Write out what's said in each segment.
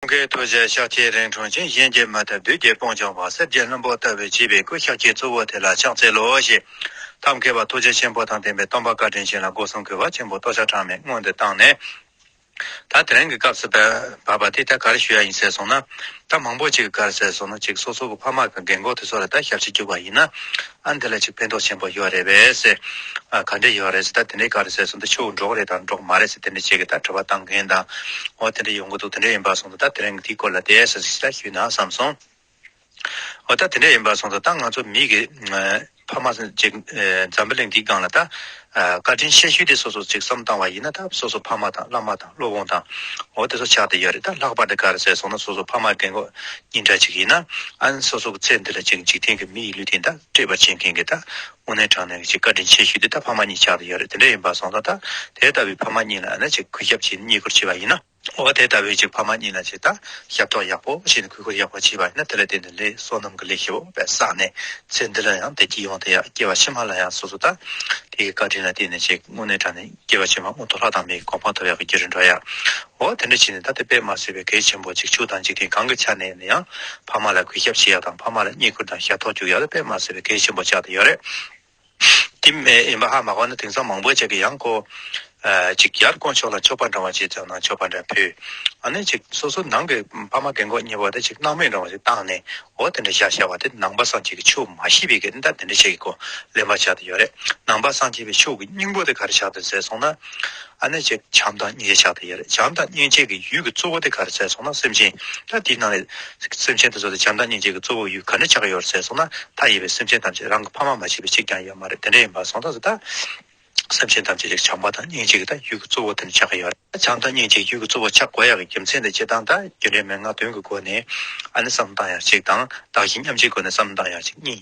ཀུན་དགའི་ཐུགས་རྗེ་ཤཱཀ་ཐའི་རིང་ཁྲོ་ཆེན་གཞན་གྱིས་མ་ལྟ་བདུད་རྒྱལ་སྤོང་བྱང་བ་གསེར་གྱི་བློན་པོ་ལྟ་བུའི་བྱིས་པའི་སྐུ་ཤཱཀ་ཀྱའི་གཙོ་བོ་དེ་ལ་ཕྱག་འཚལ་ལོ་ཞེས་ཐབས་མཁས་པ་ཐུགས་རྗེ་ཆེན་པོ་དང་ལྡན་པའི་སྟོང་པ་བཀའ་དྲིན་ཆེན་ལ་སྒོ་གསུམ་གྱི་བ་ཆེན་པོ་ཏོག་ཆ་གྲངས་མེད་སྔོན་དུ་བཏང་ནས། ད་དེ་རིང་གི་སྐབས་སུ་བབས་པ་དེ་ད་ག་རེ་ཞུ་ཡ་ཡིན་ཟེར་སོང་ན། ད་མང་པོ་ཅིག་གི་ག་རེ་ཟེར་སོང་ན་ཅིག་སོ་སོ་གི་ཕ་མ་གི་འགན་ཁུར་དེ་ཚོ་ལ་ད་ཞབས་ཕྱི་བཅུག་པ་ཡིན་ན། ཨ་འདི་ལ་ཅིག་ཕན་ཐོག་ཆེན་པོ་ཡོད་རེད་བས་ཟེར། ག་འདྲ་ཡོད་རེད་ཟེར་ད་དེ་འདྲའི་ག་རེད་ཟེར་སོང་ད་ཆུ་འབྲོག་རེད་དང་འབྲོག་མ་རེད་ཟེར་དེ་འདྲ་བྱས་གི་ད་དྲི་བ་བཏང་མཁན་དང། འོ་དེ་འདྲ་ཡོང་གི་འདུག་དེ་འདྲ་ཡིན་པར་སོང་ད་ད་དེ་རིང་དེའི་སྐོར་ལ་དེ་ཟེར་ཟེར་ཞེས་ཞུས་ན་བསམ་སོང། འོ་ད་དེ་འདྲ་ཡིན་པར་སོང་ད་ད་ང་ཚོ་མིག་གིས་ཕ་མ་ཅིག་འཛམ་བུ་གླིང་འདིའི་སྒང་ལ་ད་བཀའ་དྲིན་ཆེ་ཞུས་ཏེ་སོ་སོ་ཅིག་བསམ་བཏང་བ་ཡིན་ན་ད་སོ་སོ་ཕ་མ་དང་བླ་མ་དང་སློབ་དཔོན་དང། འོ་དེ་ཚོ་ཆགས་ཏེ་ཡོད་རེད་ད་ལྷག་པར་དུ་ག་རེ་ཟེར་སོང་ན་སོ་སོ་ཕ་མ་རྒན་གོག་གཉིས་འདྲ་ཅིག་ཡིན་ན། སོ་སོ་གི་ཚེ་འདི་ལ་ཅིག་འཇིག་རྟེན་གྱི་མི་ཡི་ལུས་དེ་འདྲ་སྤྲད་པར་བྱེད་མཁན་གྱི་ད་དབུ་ནན་དྲང་ནན་གྱི་ཅིག་བཀའ་དྲིན་ཆེ་ཞུས་ཏེ་ད་ཕ་མ་གཉིས་ཆགས་ཏེ་ཡོད་རེད་དེ་འདྲ་ཡིན་པ་སོང་ཙང་ད་དེ་ལྟ་བུའི་ཕ་མ་གཉིས་ལ་ཨ་ན་ཅིག་གུས་ཞབས་ཀྱིས་བསྙེན་བཀུར་བྱས་པ་ཡིན་ན། འོ་བ་དེ་ལྟ་བུའི་ཅིག་ཕ་མ་གཉིས་ལ་ཅིག་དང་ཞབས་ཏོག་ཡག་པོ་བྱས་ནས་གུས་བཀུར་ཡག་པོ་བྱས་པ་ཡིན་ན་དེ་ལ་བརྟེན་ནས་ལེགས་སོ་ནམ་གྱི་ལེགས་ཞེས་པ་བསགས་ནས་ཚེ་འདི་ལ་ཡང་དེ་སྐྱིད་ཡོང་དེ་ཡག་སྐྱེ་བ་ཕྱི་མ་ལ་ཡང་སོ་སོ་དང་དེའི་བཀའ་དྲིན་ལ་བརྟེན་ནས་ཅིག་དངོས་གནས་དྲང་ནས་སྐྱེ་བ་ཕྱི་མ་མངོན་མཐོ་ལྷག་དང་མིའི་གོ་འཕང་ཐོབ་ཡག་གི་རྒྱུ་རུ་འགྲོ་ཡག་འོ་དེ་འདྲ་བྱས་ནས་ད་དེ་པད་མ་སེར་བའི་གེགས་ཆེན་པོ་ཅིག་ཕྱུགས་དང་འཇིག་རྟེན་གང་གི་ཆ་ནས་ནས་ཡང་ཕ་མ་ལ་གུས་ཞབས་བྱེད་ཡག་དང་ཕ་མ་ལ་བསྙེན་བཀུར་དང་ཞབས་ཏོག་བཅུག་ཡག་ལ་པད་མ་སེར་བའི་གེགས་ཆེན་པོ་ཆགས་དེ་ཡོད་རེད། དེ་མེད་ཨེ་མ་ཧ་མ་གོ་ན་དེང་སང་མང་པོ་ཅག་གིས་ཡང་ཀོ། ཅིག་ཡར་དཀོན་མཆོག་ལ་མཆོད་པ་འདྲ་བ་ཅིག་བརྩམས་ན་མཆོད་པ་འདྲ་ཕུལ། ཨ་ནི་ཅིག་སོ་སོ་ནང་གི་ཕ་མ་རྒན་གོག་གཉིས་པོ་དེ་ཅིག་སྣང་མེད་འདྲ་བ་ཅིག་བཏང་ནས་འོ་དེ་འདྲ་བཞག་བཞག་བ་དེ་ནང་པ་སངས་རྒྱས་ཀྱི་ཆོས་མ་ཤེས་པའི་གིས་འདྲ་དེ་འདྲ་བྱེད་གི་གོ་ལེན་པ་བྱ་དུ་ཡོད་རེད་ནང་པ་སངས་རྒྱས་པའི་ཆོས་ཀྱི་སྙིང་པོ་དེ་ག་རེ་བྱ་དུ་ཟེར་སོང་ན། ཨ་ནི་ཅི། བྱམས་དང་སྙིང་རྗེ་ཕྱག་ཏུ་གཡེར། བྱམས་དང་སྙིང་རྗེ་གི་ཡུལ་གྱི་གཙོ་བོ་དེ་ག་རེ་ཟེར་སོང་ན་སེམས་ཅན། ད་དེའི་ནང་ནས། སེམས་ཅན་དེ་ཚོ་དེ་བྱམས་དང་སྙིང་རྗེ་གི་གཙོ་བོ་ཡུལ་ག་འདྲས་ཆགས་ཀྱི་ཡོད་རེད་ཟེར་སོང་ན། མཐའ་ཡས་པའི་སེམས་ཅན་ཐམས་ཅད་རང་གི་ཕ་མ་མ་བྱས་པའི་གཅིག་ཀྱང་ཡོད་མ་རེད་དེ་འདྲས་ཡིན་པ་སོང་ད་ཟེར་ད། སེམས་ཅན་ཐམས་ཅད་ཅིག་བྱམས་པ་དང་སྙིང་རྗེ་གི་ད་ཡུལ་གྱི་གཙོ་བོ་དེ་འདྲས་ཆགས་ཀྱི་ཡོད་རེད། བྱམས་དང་སྙིང་རྗེ་གི་ཡུལ་གྱི་གཙོ་བོ་ཆགས་དགོས་ཡག་གི་རྒྱུ་མཚན་དེ་སྤྱི་དང་ད་རྒྱུ་འབྲས་མན་ངག་དོན་གྱི་སྒོ་ནས། ཨ་ནི་བསམ་བཏང་ཡག་གཅིག་དང་བདག་གཞན་མཉམ་བརྗེའི་སྒོ་ནས་བསམ་བཏང་ཡག་གཅིག་གཉིས།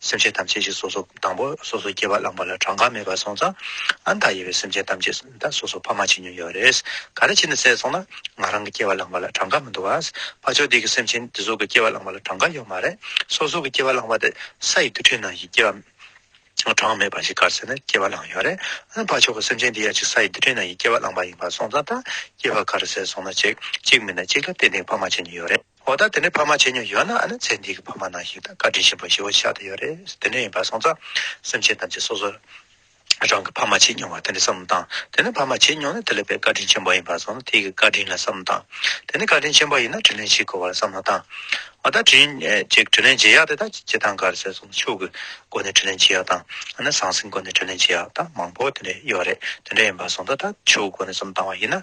སེམས་ཅན་ཐམས་ཅད་ཀྱི་སོ་སོ་དང་པོ་སོ་སོ་སྐྱེ་བ་བླངས་པ་ལ་གྲངས་ཀ་མེད་པར་སོང་ཙང་ཨ་མདའ་ཡེ་བའི་སེམས་ཅན་ཐམས་ཅད་ད་སོ་སོ་ཕ་མ་ཆེ་ཉུང་ཡོད་རེད། ག་རེ་བྱས་ནས་བསད་སོང་ན་ང་རང་གི་སྐྱེ་བ་བླངས་པ་ལ་གྲངས་ཀ་མི་འདུག་ཨ། ཕ་ཆོས་སྡེ་གི་སེམས་ཅན་དེ་ཟུག་གི་སྐྱེ་བ་བླངས་པ་ལ་གྲངས་ཀ་ཡོད་མ་རེད། སོ་སོ་གི་སྐྱེ་བ་བླངས་པ་དེ་ས་ཡི་རྡུལ་ཕྲན་ནང་བཞིན་སྐྱེ་བ་གྲངས་མེད་པ་ཞིག་གར་བསད་ནས་སྐྱེ་བ་བླངས་ཡོད་རེད། ཨ་ཕ་ཆོས་ཀྱི་སེམས་ཅན་དེ་ཡང་ཅིག་ས་ཡི་རྡུལ་ཕྲན་ནང་བཞིན་སྐྱེ་བ་བླངས་པ་ཡིན་པར་སོང་ཙང་ད་སྐྱེ་བ་ག་རེ་བསད་སོང་ན་ཅིག་ཅིག་མིན་ན་ཅིག་ལ་ཏན་ཏན་ཕ་མ་ཆེ་ཉུང་ཡོད་རེད། འོ་ད་དེ་འདྲའི་ཕ་མ་ཆེ་ཉུང་ཡོད་ན་ཨ་ནི་ཚེ་འདིའི་ཕ་མ་ནང་ཞིག་དང་བཀའ་དྲིན་ཆེན་པོ་ཞེ་བོ་ཆགས་ཏེ་ཡོད་རེད་དེ་འདྲ་ཡིན་པ་སོང་ཙང་སེམས་ཅན་ཐམས་ཅད་སོ་སོ་རང་གི་ཕ་མ་ཆེ་ཉུང་བ་དེ་འདྲ་བསམ་བློ་བཏང་དེ་ནི་ཕ་མ་ཆེ་ཉུང་ནི་དེ་ལས་པའི་བཀའ་དྲིན་ཆེན་པོ་ཡིན་པ་སོང་ཙང་དེ་ཀྱི་བཀའ་དྲིན་ལ་བསམ་བློ་བཏང་དེ་ནི་བཀའ་དྲིན་ཆེན་པོ་ཡིན་ན་དྲིན་ལན་ཞིག་དགོས་བ་ལ་བསམ་བློ་བཏང་འོ་ད་དྲིན་དྲིན་ལན་འཇལ་ཡག་དེ་དག་ཇི་ལྟར་འགར་ཟེར་སོང་ཙང་ཕྱུག་གི་སྒོ་ནས་དྲིན་ལན་འཇལ་ཡག་དང་ཨ་ནི་ཟང་ཟིང་སྒོ་ནས་དྲིན་ལན་འཇལ་ཡག་དག་མང་པོ་དེ་འདྲ་ཡོད་རེད་དེ་འདྲ་ཡིན་པ་སོང་ཙང་ད་ཕྱུག་གི་སྒོ་ནས་བསམ་བློ་བཏང་བ་ཡིན་ན་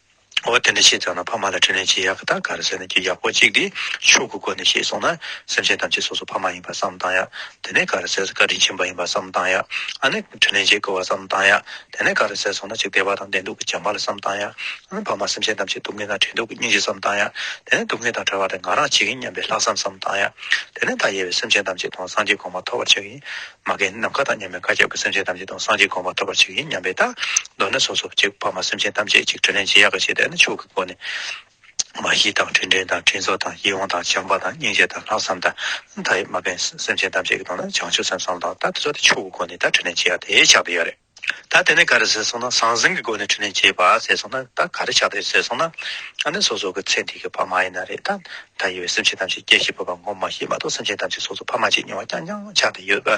འོ་དེ་འདྲ་ཤེས་ཙང་ན་ཕ་མ་ལ་དྲིན་ལན་ཇི་ཡག་གི་ད་ག་རེ་ཟེར་ན་རྒྱུ་ཡག་པོ་གཅིག་དེ་ཕྱུག་གི་སྒོ་ནས་ཤེས་སོང་ན་སེམས་ཅན་ཐམས་ཅད་སོ་སོ་ཕ་མ་ཡིན་པ་བསམ་བཏང་ཡ་དེ་ནས་ག་རེ་ཟེར་ས་བཀའ་དྲིན་ཆེན་པོ་ཡིན་པ་བསམ་བཏང་ཡ་ཨ་ནི་དྲིན་ལན་འཇལ་དགོས་བ་བསམ་བཏང་ཡ་དེ་ནས་ག་རེ་ཟེར་སོང་ན་ཅིག་བདེ་བ་དང་བདེ་སྡུག་གི་བྱམས་པ་ལ་བསམ་བཏང་ཡ་ཨ་ནི་ཕ་མ་སེམས་ཅན་ཐམས་ཅད་སྡུག་བསྔལ་དང་བྲལ་འདུག་གི་སྙིང་རྗེ་བསམ་བཏང་ཡ་དེ་ནས་སྡུག་བསྔལ་དང་བྲལ་བ་དེ་ང་རང་བྱེད་ཀྱིན་སྙམ་པའི་ལྷག་བསམ་བསམ་བཏང་ཡ་དེ་ནས་ད་ཡེ་བའི་སེམས་ཅན་ཐམས་ཅད་དང་སངས་རྒྱས་གོང་མ་ཐོབ་བར་བྱེད་ཀྱིན་མ་རྒན་ནམ་མཁའ་དང་མཉམ་པའི་མཁའ་ཁྱབ་ཀྱི་སེམས་ཅན་ཐམས་ཅད་དང་སངས་རྒྱས་དགོངས་པ་ཐོབ་པར་བྱེད་ཀྱི་སྙམ་པའི་རྟགས། མདོར་ན་སོ་སོར་གཅིག་འཕགས་མ་སེམས་ཅན་ཐམས་ཅད་གཅིག་དྲིན་ལན་ཅི་ཡག་གི་བྱེད་ལྟས་ནི་ཕྱུགས་ཀྱི་སྒོ་ནས། མ་གཞི་དང་དྲིན་དྲན་དང་དྲིན་གཟོ་དང་ཡིད་འོང་དང་བྱམས་པ་དང་སྙིང་རྗེ་དང་ལྷག་བསམ་དང་མཐའ་ཡས་མ་རྒན་སེམས་ཅན་ཐམས་ཅད་ཀྱི་དོན་ལ་བྱང་ཆུབ་སེམས་བསམ་དང་ལྟ་དེ་ཚོ་དེ་ཕྱུགས་ཀྱི་སྒོ་ནས་ད་དྲིན་ལན་ཅི་ཡག་དེ་ཆགས་དུ་ཡོད་རེད། ད་དེ་ནས་ག་རེ་ཟེར་སོང་ན་ཟང་ཟིང་གི་སྒོ་ནས་ཁྲི་ལེན་བྱེད་པ་ཟེར་སོང་ན་ད་ག་རེ་ཆགས་འདུག་ཟེར་སོང་ན་ཨ་ནི་སོ་སོ་གི་ཚེ་འདི་གི་ཕ་མ་ཡིན་ན་རེད་ད། ད་ཡོད་སེམས་ཅན་ཐམས་ཅད་སྐྱེ་ཤི་འཕོས་པ་ངོ་མ་ཤེས་མ་གཏོགས་སེམས་ཅན་ཐམས་ཅད་སོ་སོ་ཕ་མ་གཅིག་ཉོ་བ་རྐྱང་རྐྱང་ཆགས་འདི་ཡོད་པ་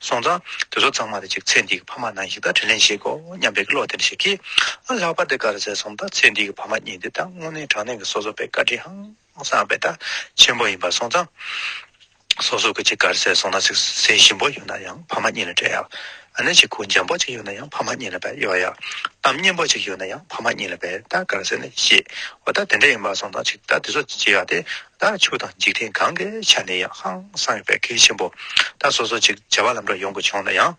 སོང་ཙང་དེ་ཚོ་ཚང་མ་དེ་གཅིག་ཚེ་འདི་གི་ཕ་མ་ནང་བཞིན་ད་ཁྲི་ལེན་བྱེད་དགོས་སྙམ་པའི་བློ་དེ་འདྲ་ཞིག་གིས་ཨ་ལྷག་པར་དེ་ག་རེ་ཟེར་སོང་ན་ད་ཚེ་འདི་གི་ཕ་མ་གཉིས་འདི་ད་དངོས་གནས་དྲང་གནས་ཀྱི་སོ་སོ་པའི་བཀའ་དྲིན་ཧང་སངས་པའི་ཐབས་ཆེན་པོ་ཡིན་པར་གསུངས་ཙང། སོ་སོ་གི་གཅིག་གར་ཟས་སོང་ན་ཟས་ཞིམ་པོ་ཡོད་ན་ཡང་ཕ་མ་གཉིས་ལ་སྤྲད་ཡག་ཨ་ནི་གཅིག་གུ་འཇམ་པོ་གཅིག་ཡོད་ན་ཡང་ཕ་མ་གཉིས་ལ་བལ་གཡོག་ཡག་གཏམ་སྙན་པོ་གཅིག་ཡོད་ན་ཡང་ཕ་མ་གཉིས་ལ་བལ་ད་གར་ཟས་ནི་ཤེས་བ་ད་དེ་འདྲ་ཡིན་པར་གསུངས་ཙང་ཅིག་ད་དེ་ཚོ་བྱེད་ཡག་དེ་ད་ཆོས་དང་འཇིག་རྟེན་གང་གི་ཆ་ནས་ཡང་ཧང་སངས་པའི་གལ་ཆེན་པོ་ད་སོ་སོ་གཅིག་བྱ་བ་ལམ་འགྲོ་ཡོང་གི་བྱུང་ན་ཡང།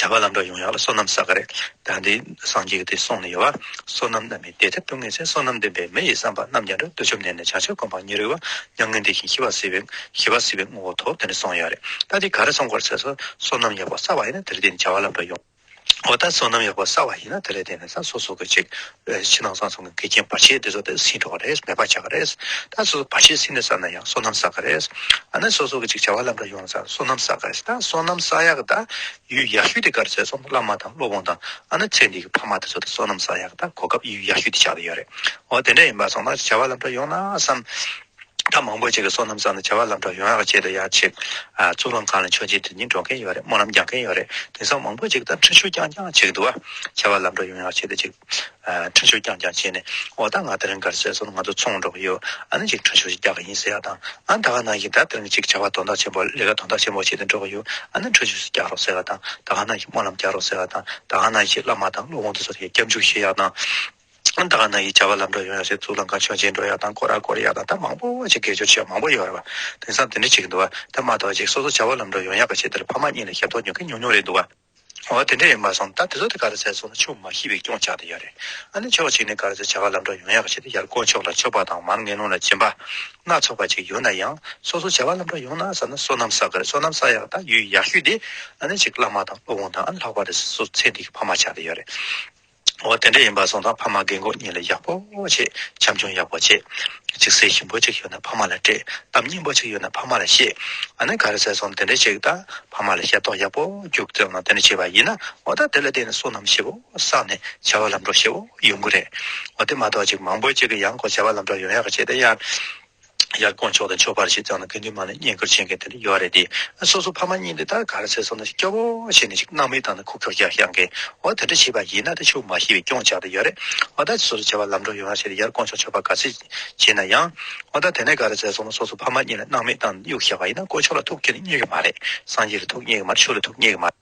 བྱ་བ་ལམ་འགྲོ་ཡོངས་ཡག་ལ་བསོད་ནམས་བསགས་ག་རེ་ད་འདི་སངས་རྒྱས་ཀྱི་དུས་སོང་ནས་ཡོད་བ་བསོད་ནམས་རྣམས་ནི་དེ་ལྟར་ཏུ་ངེས་ཚེ་བསོད་ནམས་ལྡན་པའི་མི་ཡི་བསམ་པ་རྣམས་ཀྱང་འགྲོ་འདོད་བཅོམ་ལྡན་འདས་བྱང་ཆུབ་སྒོམ་སྤང་གཉིས་རིག་བ་མྱ་ངན་འདས་ཤིང་ཤི་བ་སྲིད་པའི་ཤི་བ་སྲིད་པའི་ངོ་བོ་ཐོབ་དེ་ནས་སོང་ཡོད་རེད་ད་འདི་ག་རེ་སོང་གོ་ཚེ་སོ་བསོད་ནམས་ཡག་པོ་བསགས་པ་ཡིན་ན་དེ་ལས་འདས་ནས་བྱ་བ་ལམ་འགྲོ་ཡོངས་འོ་ད་བསོད་ནམས་ཡག་པོ་བསགས་པ་ཡིན་ན་དེ་ལས་འདས་ནས་ས་སོ་སོ་གོ་ཅིག་ཕྱི་ནང་གསང་གསུམ་གྱི་འགལ་རྐྱེན་བར་ཆད་དེ་ཚོ་དེ་ཟིན་འགྲོ་བ་རེད་མེད་པར་བྱ་གི་རེད། ད་སོ་སོ་བར་ཆད་ཟིན་ནས་བསགས་ན་ཡང་སོ་ནམ་བསགས་གི་རེད། ཨ་ནི་སོ་སོ་གི་ཅིག་བྱ་བ་ལམ་འགྲོ་ཡོང་ན་ཚར་སོ་ནམ་བསགས་གི་རེད། ད་སོ་ནམ་བསགས་ཡག་གི་ད་ཡུལ་ཡག་ཤོས་དེ་ག་རེ་ཟེར་སོང་བླ་མ་དང་སློབ་དཔོན་དང་ཨ་ནི་ཚེ་འདི་གི་ཕ་མ་དེ་ཚོ་དེ་སོ་ནམ་བསགས་ཡག་གི་ད་གོ་སྐབས་ཡུལ་ཡག་ཤོས་དེ་ཆགས་ཀྱི་ཡོད་རེད། འོ་དེ་འདྲ་ཡིན་པ་སོང་ན་ཅིག་བྱ་བ་ལམ་འགྲོ་ཡོང་ན་བསམ། ད་མང་པོ་ཅིག་གིས་སོ་ནམ་བཟའ་ན་བྱ་བ་ལམ་འགྲོ་ཡོང་ཡག་ཅེས་དུ་ཡག་ཆེ། གཙུག་ལམ་ཁང་ལ་མཆོད་མཇལ་དུས་ཉིན་འགྲོ་མཁན་ཡོད་རེད་སྨོན་ལམ་རྒྱག་མཁན་ཡོད་རེད་དེང་སང་མང་པོ་ཅིག་ད་འཕྲུལ་ཆུ་རྐྱང་རྐྱང་བྱེད་ཀྱི་འདུག་བྱ་བ་ལམ་འགྲོ་ཡོང་ཡག་ཆེད་དུ་ཅིག་འཕྲུལ་ཆུ་རྐྱང་རྐྱང་བྱས་ནས་འོ་ད་ང་དེ་རིང་གར་སོས་སོ་ང་ཚོ་ཚོང་འགྲོ་གི་ཡོད་ཨ་ནི་ཅིག་འཕྲུལ་ཆུ་ཞིག་རྒྱག་གི་ཡིན་ཟེར་ཡག་དང་ཨ་ད་ག་ནང་བཞིན་ད་དེ་རིང་ཅིག་བྱ་བ་དོན་དག་ཆེན་པོ་ལས་ཀ་དོན་དག་ཆེན་པོ་བྱེད་དུ་འགྲོ་གི་ཡོད་ཨ་ནི་འཕྲུལ་ཆུ་ཞིག་རྒྱག་རོགས་ཟེར་ཡག་དང་ད་ག་ནང་བཞིན་སྨོན་ལམ་རྒྱག་རོགས་ཟེར་ཡག་དང་ད་ག་ནང་བཞིན་བླ་མ་དང་སློབ་དཔོན་དུ་སོ་ཡི་སྐྱབས་འཇུག་བཞེས་ཡག་དང། ད་ག་ན་ཡི་བྱ་བ་ལམ་འགྲོ་ཡོང་ཡོད་སའི་གཙུག་ལམ་ཁང་ཆོས་མཇལ་འགྲོ་ཡག་དང་སྐོར་ར་སྐོར་ཡག་དང་ད་མང་པོ་ཅིག་དགེ་སྦྱོར་ཆེ་བ་མང་པོ་ཡོད་རེད་བ་དེང་སང་དེ་འདྲ་བྱེད་ཀྱི་འདུག་བ་ད་མ་གཏོགས་ཅིག་སོ་སོ་བྱ་བ་ལམ་འགྲོ་ཡོང་ཡག་ག་བྱེད་དེར་ཕ་མ་གཉིས་ལ་ཞབས་ཏོག་ཉོ་གི་ཉུང་ཉུང་རེད་འདུག་བ། འོ་དེ་འདྲ་ཡིན་པར་སོང་ད་དེ་ཚོ་དེ་ག་རེ་ཟེར་སོང་ན་ཆུ་མ་ཤི་བའི་སྐྱོང་བྱ་དེ་ཡོད་རེད་ཨ་ནི་ཕྱོགས་གཅིག་ནས་ག་རེ་ཟེར་བྱ་བ་ལམ་འགྲོ་ཡོང་ཡག་ག་བྱེད་དེ་ཡར་དཀོན་མཆོག་ལ་མཆོད་པ་དང་མར་ངན་ལུང་ལ་སྦྱིན་པ། སྣ་ཚོགས་པ་ཅིག་ཡོད་ན་ཡང་སོ་སོ་བྱ་བ་ལམ་འགྲོ་ཡོང་ན་ཟ་ན་སོ་ནམ་ཟ་གི་རེད་སོ་ནམ་ཟ་ཡག་དང་ཡུལ་ཡག་ཤོས་དེ་ཨ་ནི་ཅིག་བླ་མ་དང་སློབ་དཔོན་དང་ཨ་ནི་ལྷག་པ་རེ་ཟུང་སོ་ཚེ་འདི་གི་ཕ་མ་བྱ་དེ་ཡོད་རེད། འོ་དེ་འདྲ་ཡིན་པ་གསུངས་དང་ཕ་མ་རྒན་གོག་གཉིས་ལ་ཡག་པོ་བྱེད་བྱམས་སྐྱོང་ཡག་པོ་བྱེད་གཅིག་སེམས་ཞིམ་པོ་ཅིག་ཡོད་ན་ཕ་མ་ལ་སྤྲད་གཏམ་སྙན་པོ་ཅིག་ཡོད་ན་ཕ་མ་ལ་བཤད་ཨ་ནེ་ག་རེ་ཟེར་སོང་དེ་འདྲ་ཅིག་དང་ཕ་མ་ལ་ཤ་རྟོག་ཡག་པོ་རྒྱུག་རྩེ་གནང་དེ་འདྲ་བྱས་པ་ཡིན་ན་འོ་ད་དེ་ལ་བརྟེན་ནས་བསོད་ནམས་ཞེ་བོ་བསགས་ནས་བྱ་བ་ལམ་འགྲོ་ཞེ་བོ་ཡོང་གི་རེད་འོ་དེ་མ་གཏོགས་ཅིག་མང་པོ་ཅིག་གི་ཡང་སྒོ་བྱ་བ་ལམ་འགྲོ་ཡོང་ཡག་བྱས་དེ་ཡང། ཡར་དགོངས་ཆོག་དང་ཆོག་པར་ཞིག་བརྩམས་ན་དགེ་འདུན་མང་ལ་བསྙེན་བཀུར་བྱེད་མཁན་དེ་འདྲ་ཡོད་རེད་དེ། སོ་སོ་ཕ་མ་གཉིས་འདི་ལྟར་ག་རེ་ཟེར་སོང་ན་སྐྱོ་བོ་བྱས་ནས་ཅིག་སྣང་མེད་བཏང་ན་ཁུག་ཀྱོག་ཀྱང་ཤར་འགས་འོ་དེ་འདྲ་བྱས་པ་ཡིན་ན་ད་ཆུ་མ་ཤི་བའི་སྐྱོང་བྱ་དེ་ཡོད་རེད་འོ་ད་ཅིག་སོ་སོ་བྱ་བ་ལམ་འགྲོ་ཡོང་བ་བྱས་ཏེ་ཡར་དགོངས་ཆོག་ཆོག་པར་ག་ཚོད་བྱས་ན་ཡང། འོ་ད་དེ་ནས་ག་རེ་ཟེར་སོང་ན་སོ་སོ་ཕ་མ་གཉིས་ལ་སྣང་མེད་བཏང་ནས་གཡུག་ཤར་བ་ཡིན་ན་དཀོན་མཆོག་ལ་ཐུགས་ཀྱི་ནི་རྙེད་གི་མ་རེད་སངས་རྒྱས་ལ་ཐུགས་རྙེད་གི་མ་རེད་ཆོས་ལ་ཐུགས་རྙེད་གི་མ་རེད།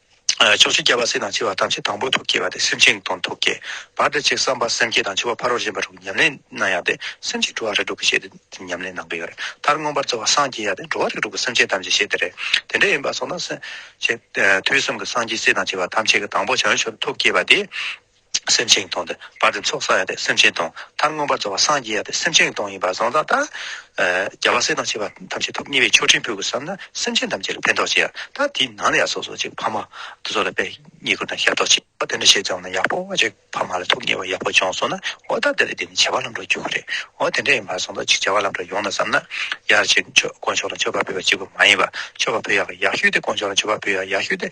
ཕྱོགས་བཞི་རྒྱལ་བ་སྲིད་དང་འཆི་བ་ཐམས་ཅད་དང་པོ་ཐུགས་བསྐྱེད་པ་སྟེ་སེམས་ཅན་དང་ཐུགས་བསྐྱེད་པ་འདི་ཆེས་བསམ་པ་སེམས་བསྐྱེད་དང་འཆི་བ་ཕ་རོལ་གཞན་པ་དྲུག་ཉམས་ལེན་གནང་ཡག་སྟེ་སེམས་ཅན་འགྲོ་བ་རིགས་དྲུག་གི་ཤེས་ཏེ་འདི་ཉམས་ལེན་གནང་གི་ཡོད་རེད་མཐར་མངོན་པར་རྩོལ་བ་སངས་རྒྱས་ཡག་སྟེ་འགྲོ་བ་རིགས་དྲུག་གི་སེམས་ཅན་ཐམས་ཅད་ཤེས་དེ་རེད་དེ་འདྲ་ཡིན་པ་སོགས་ན། དུས་གསུམ་གྱི་སངས་རྒྱས་སྲིད་དང་འཆི་བ་ཐམས་ཅད་ཀྱི་དང་པོ་བྱང་ཆུབ་ཐུགས་བསྐྱེད་པ་དེ། སེམས་ཅན་གྱི་དོན་དུ་བར་དུ་ཚོགས་བསག་ཡག་དེ་སེམས་ཅན་དོན་མཐར་མངོན་པར་རྫོགས་པར་སངས་རྒྱས་ཡག་དེ་སེམས་ཅན་གྱི་དོན་ཡིན་པར་བཟང་ཙང་ལྟར། རྒྱལ་བ་སྲས་དང་བཅས་པ་ཐམས་ཅད་ཐོབ་ཉེ་བའི་ཆོས་ཕྲན་བུ་དགོས་བསམ་ན་སེམས་ཅན་ཐམས་ཅད་ལ་ཕན་ཐོགས་ཆེ་ཡང་ད་དེའི་ནང་ལ་ཡང་སོ་སོ་ཅིག་ཕ་མ་དུ་ཚོགས་ལ་བརྙས་བཀུར་དང་ཞབས་ཏོག་བྱེད་པ་དེ་འདྲ་བྱས་ཙང་ན་ཡག་པོ་བ་ཅིག་ཕ་མ་ལ་ཐོབ་ཉེ་བ་ཡག་པོ་བྱུང་སོང་ན་འོ་ད་དེ་ལ་བརྟེན་ནས་བྱ་བ་ལམ་འགྲོ་རྒྱུ་ཁོ་རེད་འོ་དེ་འདྲ་ཡིན་པར་བཟང་ཙང་ཅིག་བྱ་བ་ལམ་འགྲོ་ཡོང་ན་བསམ་ན་ཡར་ཅིག་དཀོན་མཆོག་ལ་མཆོད་པ་འབུལ་བ་གཅིག་པུ་མ་ཡིན་པར་མཆོད་པ་འབུལ་ཡག་ཡག་ཤོས་དེ་དཀོན་མཆོག་ལ་མཆོད་པ་འབུལ་ཡག་ཡག་ཤོས་དེ།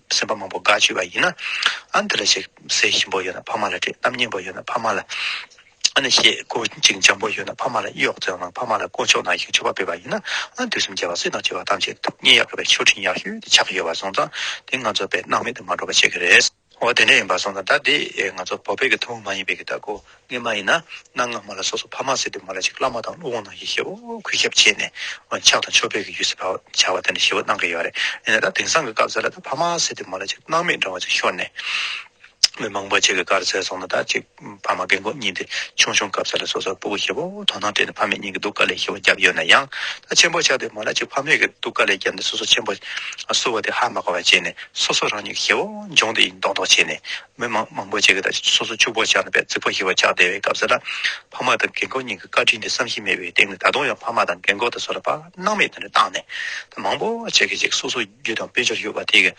སེམས་པ་མང་པོ་དགའ་ཆེ་བ་ཡིན་ན་ཨ་འདི་ལ་བྱེད་ཟེ་ཞིམ་པོ་ཡོད་ན་ཕ་མ་ལ་དྲིས་གཏམ་སྙན་པོ་ཡོད་ན་ཕ་མ་ལ་ཨ་ནི་ཞེས་གོ་ཅིང་འཇམ་པོ་ཡོད་ན་ཕ་མ་ལ་གཡོག་རྩེའོ་ནང་ཕ་མ་ལ་དཀོན་མཆོག་ནང་བཞིན་ཆོས་པ་སྤེལ་བ་ཡིན་ན་ཨ་འདི་སེམས་བསྐྱེད་པ་སྲིད་དང་བཅས་པ་ཐམས་ཅད་ཐུགས་མཉེས་ཡག་གི་བའི་མཆོད་སྤྲིན་ཡག་ཤོས་དེ་ཆགས་ཀྱི་ཡོད་པ་སོང་ཙང་དེ་ང་ཚོ་བས་སྣང་མེད་དུ་མ་འགྲོ་བ་བྱེད་ཀྱི་རེད། འོ་དེ་འདྲ་ཡིན་པ་སོང་ཙང་ད་དེ་ང་ཚོ་བོད་པའི་གི་ཐུ་བོ་མ་ཡིན་པའི་གི་ད་གོ་ངས་མ་ཡིན་ན་གནའ་སྔ་མོ་ལ་སོ་སོ་ཕ་མ་སྲིད་དུ་མ་ལ་ཅིག་བླ་མ་དང་ཀླུ་དབང་ནང་གི་ཞེའུ་གུས་ཞབས་བྱས་ནས་ཕྱག་དང་ཆོ་འཕེལ་གྱི་ཡུལ་སྲིད་བར་བྱ་བ་དེ་འདྲ་ཞེའུ་གནང་གི་ཡོད་རེད་ཡིན་ན་ད་དེང་སང་གི་སྐབས་ཟེར་ལ་ད་ཕ་མ་སྲིད་དུ་མ་ལ་ཅིག་སྣང་མེད་འདྲ་བ་ཅིག་ཤོར་ནས་མི་མང་པོ་ཅིག་གི་གར་ཟེར་སོང་ན་ད་ཅིག་ཕ་མ་རྒན་གོག་གཉིས་འདི་ཆུང་ཆུང་སྐབས་ཟེར་ལ་སོ་སོར་སྤུ་གུ་ཞེའུ་དོ་སྣང་སྤྲད་ནས་ཕ་མེས་གཉིས་ཀྱི་སྡུག་དཀའ་ལས་ཞེའུ་བརྒྱབ་ཡོད་ན་ཡང་ད་ཆེན་པོ་ཆགས་དུས་མ་ལ་ཅིག་ཕ་མེས་ཀྱི་སྡུག་དཀའ་ལས་བརྒྱབ་ནས་སོ་སོ་ཆེན་པོ་བསུ་བ་དེ་ཧ་མ་གོ་བ་བྱས་ནས་སོ་སོ་རང་ཉིད་ཀྱི་ཞེའུ་འབྱུང་དེ་ཡིན་མདོག་མདོག་བྱས་ནས་མི་མང་མང་པོ་ཅིག་གིས་ད་ཆ་སོ་སོ་ཕྱུག་པོར་ཆགས་ནས་པས་རྩིག་པ་ཞིག་བ་ཆགས་བསྡད་པའི་སྐབས་སུ། ཕ་མ་དང་རྒན་འཁོགས་གཉིས་ཀྱི་བཀའ་དྲིན་དེ་བསམ་གཞིག་མེད་པའི་སྟེང་ནས་ད་དུང་ཡང་ཕ་མ་དང་རྒན་འཁོགས་དང་སོགས་ལ་དཔག་སྣང་མེད་དུ་བཏང་ནས། ད་མང་པོ་ཅིག་གིས་ཅིག་སོ་སོ་རྒྱུ་དང་དཔལ་འབྱོར་ཡོད་པ་དེ་གིས།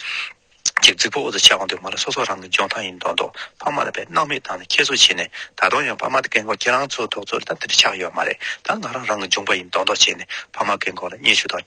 ཅིག་རྩིག་པ་འོག་ཏུ་ཆགས་འདུག་མ་ལ་སོ་སོ་རང་གི་འཇོན་ཐང་ཡིན་མདོག་མདོག་ཕ་མ་ལ་པས་སྣང་མེད་བཏང་ནས་ཁྱད་གསོད་བྱས་ནས་ད་དུང་ཡང་ཕ་མ་དང་རྒན་འཁོགས་ཁྱེད་རང་ཚོ་ཐོག་ཚོ་ལ་ད་འདི་འདྲ་ཆགས་ཡོད་མ་རེད་ད་ང་རང་རང་གི་འཇོན་པ་ཡིན་མདོག་མདོག་བྱས་ནས་ཕ་མ་རྒན་འཁོགས་ལ་བརྙས་བཅོས་དང།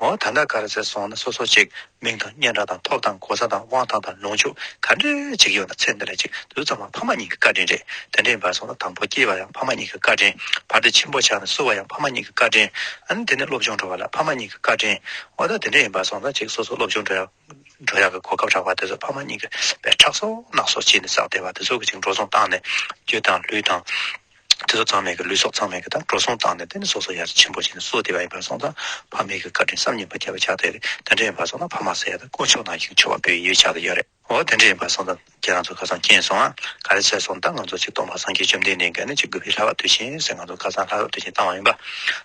འོ་ད་ལྟ་ག་རེ་ཟེར་སོང་ན་སོ་སོ་ཅིག་མིང་དང་སྙན་གྲགས་དང་ཐོབ་དང་གོ་ས་དང་དབང་ཐང་དང་ལོངས་སྤྱོད་ག་འདྲེ་ཅིག་ཡོད་ན་ཚེ་འདི་ལ་གཅིག་དུས་ཙམ་ལ་ཕ་མ་གཉིས་ཀྱི་བཀའ་དྲིན་རེད་དེ་འདྲེ་འབར་སོང་ན་དང་པོ་སྐྱེས་པ་ཡང་ཕ་མ་གཉིས་ཀྱི་བཀའ་དྲིན་བར་དེ་ཆེན་པོ་ཆགས་ནས་བསུ་བ་ཡང་ཕ་མ་གཉིས་ཀྱི་བཀའ་དྲིན་ཨ་ནི་དེ་ནས་སློབ་སྦྱོང་འགྲོ་བ་ལ་ཕ་མ་གཉིས་ཀྱི་བཀའ་དྲིན་འོ་ད་དེ་འདྲེ་ཡིན་པར་སོང་ན་ཅིག་སོ་སོ་སློབ་སྦྱོང་འགྲོ་ཡག། འགྲོ་ཡག་གི་གོ་སྐབས་རག་པ་དེ་ཚོ་ཕ་མ་གཉིས་ཀྱི་བས་ཁྲག་གསོག་སྣག་གསོག་བྱས་ནས་བསགས་བསྡད་པ་དེ་ཚོ་གི་ཅིག་འགྲོ་སོང་བཏང་ནས་རྒྱུ་དང་ལུས་དང། དེ་ཚོ་ཚང་མེད་གི་ལུས་སྲོག་ཚང་མེད་གི་དང་འགྲོ་སོང་བཏང་ནས་དེ་ནས་སོ་སོ་ཡར་ཆེན་པོ་བྱས་ནས་གསོ་བསྡད་པ་ཡིན་པར་སོང་ཙང་ཕ་མེད་གི་བཀའ་དྲིན་བསམ་ཉིན་པ་བརྒྱ་པ་བྱ་འདོད་རེད་དེ་འདྲ་ཡིན་པར་སོང་ཙང་ཕ་མ་ཟེར་ཡ་དང་དཀོན་མཆོག་ནང་བཞིན་ཆོས་བ་པོའི་ཡུལ་བྱ་དུ་ཡོད་རེད་འོ་དེ་འདྲ་ཡིན་པར་སོང་ཙང། ཁྱེད་རང་ཚོ་ཁ་སང་སྐྱེས་སོང་ཨ། ག་རེ་བྱས་སོང་ད་ང་ཚོ་ཆིག་སྟོང་པ་སངས་རྒྱས་བཅོམ་ལྡན་འདས་འགན་ནི་ཅིག་དགོས་པའི་ལྷ་བབ་དུས་གཞན་ཟེར་ང་ཚོ་ཁ་སང་ལྷ་བབ་དུས་གཞན་བཏང་བ་ཡིན་པ།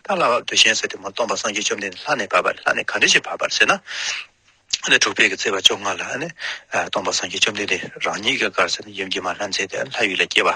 ད་ལྷ་བབ་དུས་གཞན་ཟེར་ཏེ་མ་སྟོང་པ་སངས་རྒྱས་བཅོམ་ལྡན་འདས་ལྷ་ནས་བབ་པ་ལྷ་ནས་ག་འདྲི་ཞིག་བབ་པར་ཟེར་ན། ནི་དྲུག་པའི་གི་ཚེས་པ་བཅོ་ལྔ་ལ་ནི། སྟོང་པ་སངས་རྒྱས་བཅོམ་ལྡན་འདས་རང་ཉིད་ཀྱི་གར་ཟེར་ནི་ཡུམ་གྱི་མ་ལྷ་མཛད་དེ་ལྷ་ཡུལ་ལ་སྐྱེ་བ།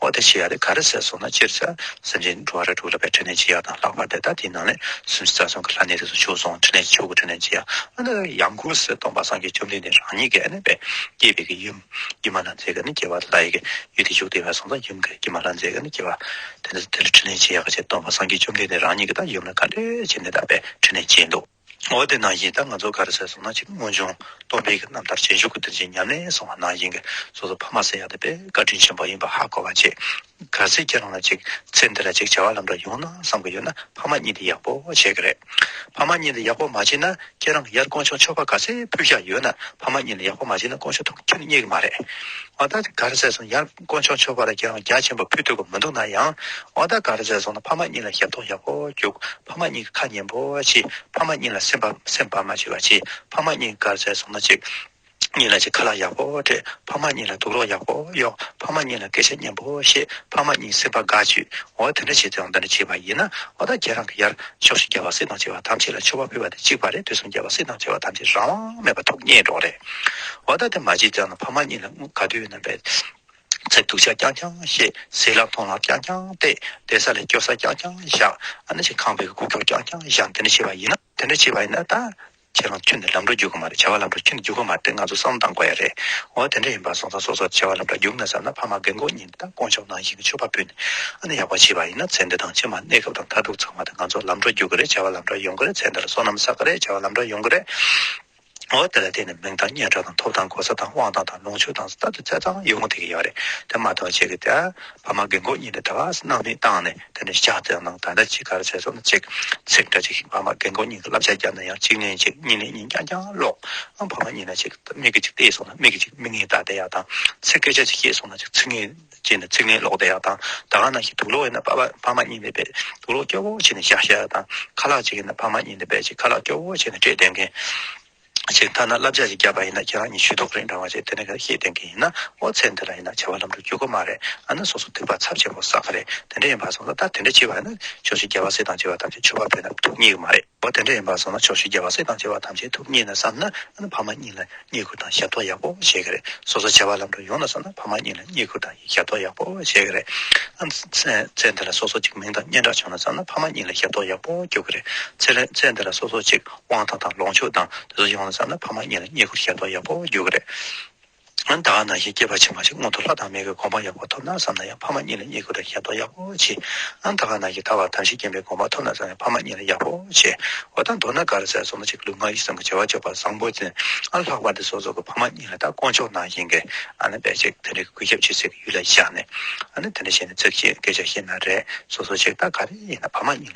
འོ་དེ་ཆི་ཡ་དེ་ག་རེ་ཟེར་སོང་ན་སྤྱིར་ཟེར། སེམས་ཅན་འགྲོ་བ་རེ་དྲུག་ལ་བའི་ཕྲིན་ལས་ཅི་ཡག་དང་ལྷག་པར་དེ་དག་དེའི་ནང་ནས་སུམ་ཅུ་རྩ་གསུམ་གྱི་ལྷ་གནས་དེ་སུ་བྱུགས་སོང་ཕྲིན་ལས་ཀྱི་ཆོ་ག་ཕྲིན་ལས་ཅི་ཡག་ཨ་ནི་ཡང་ཀུན་གཟིགས་སྟོང་པ་སངས་རྒྱས་བཅོམ་ལྡན་འདས་རང་ཉིད་ཀྱི་ཨ་ནི་བས་སྐྱེས་པའི་གི་ཡུམ་ཀྱེ་མ་ལྷ་མཛེས་ཀྱི་ནི་སྐྱེ་བ་ལྷ་ཡི་གི་ཡུལ་དེ་བཞུགས་ཏེ་བས་སོང་ཙང་ཡུམ་གྱི་ཀྱེ་མ་ལྷ་མཛེས་ཀྱི་ནི་སྐྱེ་བ་དེ་ནི་དེ་ལ་ཕྲིན་ལས་ཅི་ཡག་ག་བྱེད་སྟོང་པ་སངས་རྒྱས་བཅོམ་ལྡན་འདས་རང་ཉིད་ཀྱི་ད་ཡུམ་ལ་ག་འདྲེ་བྱེད་འདི་ལྟ་བས་ཕྲིན་ལས་ཅི་འདུག། འོ་དེ་ནང་བཞིན་ད་ང་ཚོ་ག་རེ་བྱས་སོང་ན་གཅིག་སྔོན་བྱུང་སྟོང་སྨྲས་ཀྱི་རྣམ་ཐར་ཇེ་མཆོག་གི་དོན་ཆེན་ཉམས་ལེན་སོང་བ་ནང་བཞིན་གྱི་སོ་སོ་ཕ་མ་སེ་ཡ་དེ་པའི་བཀའ་དྲིན་ཆེན་པོ་ཡིན་པ་ཧ་གོ་བ་བྱས། ག་ཚོད་ཀྱི་རང་ལ་གཅིག་ཚེ་འདི་ལ་གཅིག་བྱ་བ་ལམ་འགྲོ་ཡོང་ན་བསམ་གྱི་ཡོད་ན་ཕ་མ་གཉིས་འདི་ཡག་པོ་བྱས་གི་རེད། ཕ་མ་གཉིས་འདི་ཡག་པོ་མ་བྱས་ན་ཁྱེད་རང་གི་ཡར་དཀོན་མཆོག་ཆོ་ག་ག་ཚོད་ཕུལ་བཞག་ཡོད་ན་ཕ་མ་གཉིས་འདི་ཡག་པོ་མ་བྱས་ན་དཀོན་མཆོག་ཐུགས་ཁྱེད་རྙེད་གི་མ་རེད། ང་ད་ག་རེ་བྱས་སོང་ཡར། དཀོན་མཆོག་མཆོད་པར་རྒྱལ་རོང་རྒྱ་ཆེན་པོ་ཕུད་ཐུབ་ཀྱི་མི་འདུག་ན་ཡང། ཨོ་ད་ག་རེ་ཟེར་སོང་ན་ཕ་མ་གཉིས་ལ་ཞབས་ཏོག་ཞབས་ཧོ་རྒྱུག་ཕ་མ་གཉིས་ཀྱི་ཁ་ཉན་པོ་བྱས་ཕ་མ་གཉིས་ལ་སེམས་པ་སེམས་པ་མ་བྱེད་པ་བྱས་ཕ་མ་གཉིས་ག་རེ་ཟེར་སོང་ན་གཅིག་གཉིས་ལ་གཅིག་ཁ་ལག་ཞབས་ཧོ་སྤྲད་ཕ་མ་གཉིས་ལ་སྡུག་རོགས་ཞབས་ཧོ་གཡོག་ཕ་མ་གཉིས་ལ་སྐད་ཆ་སྙན་པོ་བཤད་ཕ་མ་གཉིས་སེམས་པ་དགའ་བྱོས་འོ་དེ་འདྲ་བྱས་ཙང་འདི་འདྲ་བྱས་པ་ཡིན་ན་ཨོ་ད་ཁྱེད་རང་གི་ཡར་ཕྱོགས་ཤིག་རྒྱལ་བ་སྲིད་དང་བྱེ་བ་ཐམས་ཅད་ལ་ཆོས་བ་ཕུལ་བ་དེ་གཅིག་པ་རེད་དུས་གསུམ་རྒྱལ་བ་སྲིད་དང་བྱེ་བ་ཐམས་ཅད་རང་དབང་མེད་པ་ཐུགས་མཉེས་འགྲོགས་རེད་ཨོ་ད་དེ་མ་བྱས་ཙང་ན་ཕ་མ་གཉིས་ལ་དངུལ་ག་དུས་ན། ཚེ་སྡུག་ཆ་རྐྱང་རྐྱང་ཤེས། ཟས་ལ་འཐུང་ལ་རྐྱང་རྐྱང་བལྟས། བསྡད་ས་ལས་སྐྱོབ་ས་རྐྱང་རྐྱང་བཞག། ཁང་པའི་སྒོ་ཁྱུག་རྐྱང་རྐྱང་བཞག། དེ་འདྲ་བྱས་པ་ཡིན་ན་ད་ཁྱེད་རང་ཁྱོད་ནི་ལམ་འགྲོ་རྒྱུག་གི་མ་རེད་བྱ་བ་ལམ་འགྲོ་ཁྱོད་ནི་རྒྱུག་གི་མ་རེད་ང་ཚོ་བསམ་བློ་བཏང་དགོས་ཡ་རེད། འོ་དེ་འདྲ་ཡིན་པ་སོང་ཙང་སོ་སོར་བྱ་བ་ལམ་འགྲོ་རྒྱུག་ན་བསམ་ན་ཕ་མ་རྒན་འཁོགས་གཉིས་ད་དཀོན་མཆོག་ནང་བཞིན་གྱི་ཆོས་པ་སྤུན་ནི་ཨ་ནི་ཡག་པོ་བྱས་པ་ཡིན་ན་ཚེ་འདི་དང་ཕྱི་མ་གནས་སྐབས་དང་མཐར་ཐུག་ཚང་མ་དེ་ང་ཚོ་ལམ་འགྲོ་རྒྱུག་གི་རེད་བྱ་བ་ལམ་འགྲོ་ཡོང་གི་རེད་ཚེ་འདི་ལ་སོ་ནམ་བསགས་གི་རེད་བྱ་བ་ལམ་འགྲོ་ཡོང་གི་རེད། ངོ་བོ་དེ་ལ་བརྟེན་ནས་མིང་དང་སྙན་གྲགས་དང་ཐོབ་དང་གོ་ས་དང་དབང་ཐང་དང་ལོངས་སྤྱོད་དང་ས་དང་ཚེ་དང་ཡུལ་ངོ་ཐེག་གི་ཡོད་རེད་དེ་མ་ཐག་ཅིག་གིས་ཕ་མ་རྒན་གོག་གཉིས་ནས་དགའ་སྣང་མི་བཏང་ནས་དེ་ནས་ཤ་ཚ་ནང་ད་ལྟ་ཅིག་གར་ཚེ་སྲོག་ནི་གཅིག་ཚེག་འདྲ་ཅིག་ཕ་མ་རྒན་གོག་གཉིས་ཀྱི་བསླབ་བྱ་བརྒྱབ་ན་ཡང་གཅིག་ནས་གཅིག་གཉིས་ནས་གཉིས་རྐྱང་རྐྱང་ཀློག་ཨང་ཕ་མ་གཉིས་ནས་ཅིག་མིག་གིས་ཅིག་བལྟས་སོང་ན་མིག་གིས་ཅིག་མིག་ངན་ལྟ་བསྡད་ཡག་དང་ཚེ་སྐད་ཆ་ཅིག་བཤད་སོང་ན་ཅིག་ཚིག་ངན་བྱས་ནས་ཚིག་ལན་ལོག་བསྡད་ཡག་དང་ད་ག་ན་ཞིག་དུག་ལོག་ཡིན་ན་ཕ་མ་གཉིས་ལས་པས་དུག་ལོག་སྐྱོ་བོ་བྱས་ནས་བཞག་བཞག་དང་ཁ་ལག་གཅིག་ཡིན་ན་ཕ་མ་གཉིས་ལས་པས་ཅིག་ཁ་ལག་སྐྱོ་བོ་བྱས་ནས་སྤྲད་བསྡད་མཁན་ཞིག་མཐའ་ན་བསླབ་བྱ་ཞིག་བརྒྱབ་པ་ཡིན་ན་ཁྱེད་རང་གཉིས་ཞུས་དོགས་རེད་འདྲ་བ་ཞིག་དེ་ནས་ཁ་ཤེས་བསྡད་མཁན་ཡིན་ན་ཨོ་ཚེ་འདི་ལ་ཡིན་ན་བྱ་བ་ལམ་འགྲོ་འགྱུར་གོ་མ་རེད་ཨ་ན་སོ་སོ་དུས་བབ་ཚབ་ཆེན་པོ་བསགས་ཀ་རེད་དེ་འདྲ་ཡིན་པ་སོང་ལ་ད་དེ་འདྲ་བྱས་པ་ཡིན་ན་ཆོག་ཤིག་རྒྱལ་བ་སྲས་དང་བཅས་པ་ཐམས་ཅད་ཆོས་པ་བོད་ནང་དུ་རྙེད་གི་མ་རེད། པོ་དེ་འདྲ་ཡིན་པར་བཟོ་ན་ཆོག་ཤེས་རྒྱ་བ་སྲིད་དང་བྱེ་བ་ཐམས་ཅད་ཐུགས་མཉེས་ནས་བསམ་ན་ཕ་མ་གཉིས་ལ་བསྙེན་བཀུར་དང་ཞབས་ཏོག་ཡག་པོ་བྱེད་ཀྱི་རེད་སོ་སོ་བྱ་བ་ལམ་འགྲོ་ཡོང་ན་བསམ་ན་ཕ་མ་གཉིས་ལ་བསྙེན་བཀུར་དང་ཞབས་ཏོག་ཡག་པོ་བྱེད་ཀྱི་རེད་ཚེ་འདི་ལ་སོ་སོ་ཅིག་མིང་དང་སྙན་གྲགས་བྱུང་ན་བསམ་ན་ཕ་མ་གཉིས་ལ་ཞབས་ཏོག་ཡག་པོ་རྒྱོབ་ཀྱི་རེད་ཚེ་འདི་ལ་སོ་སོ་ཅིག་དབང་ཐང་དང་ལོངས་སྤྱོད་དང་དེ་ཚོ་ཡོང་ན་བསམ་ན་ཕ་མ་གཉིས་ལ་བསྙེན་བཀུར་ཞབས་ཏོག་ཡག་པོ་རྒྱོབ་ཀྱི་རེད། ཡང་དག་ན་ཞིང་སྐྱེས་པ་ཕྱི་མ་ཞིག་སྔོན་དུ་ལྷ་དང་མི་གི་དགོངས་པ་ཡག་པོ་ཐོབ་ན་བསམ་ན་ཡང་ཕ་མ་གཉིས་ལ་གཉིས་ཀུན་ཏུ་ཞལ་མཐོང་ཡག་པོ་བྱེད། ཡང་དག་ན་ཞིག་ཐར་བ་དམ་ཤེས་སྐྱེས་པའི་དགོངས་པ་ཐོབ་ན་བསམ་ཡང་ཕ་མ་གཉིས་ལ་ཡག་པོ་བྱེད། འོ་ད་མདོར་ན་དགའ་ར་ཟས་སོ་མ་གཅིག་ལུས་ངག་ཡིད་གསུམ་གྱི་བྱ་བ་སྤྱོད་པ་བཟང་པོ་ཅན་ཨ་ལྷག་པ་འདི་སོ་སོ་གི་ཕ་མ་གཉིས་ལ་ད་དཀོན་མཆོག་ནང་བཞིན་གྱི་ཨ་ནི་བེད་ཅིག་དེ་འདྲའི་གུས་ཞབས་བྱེད་སའི་གི་ཡུལ་ལ་བཞག་ནས་ཨ་ནི་དེ་འདྲ་བྱས་ནས་ཚིག་གཅིག་སྐད་ཆ་བཤད་ན་རེད་སོ་སོ་ཅིག་ད་ག་རེ་ཡིན་ན་ཕ་མ་གཉིས།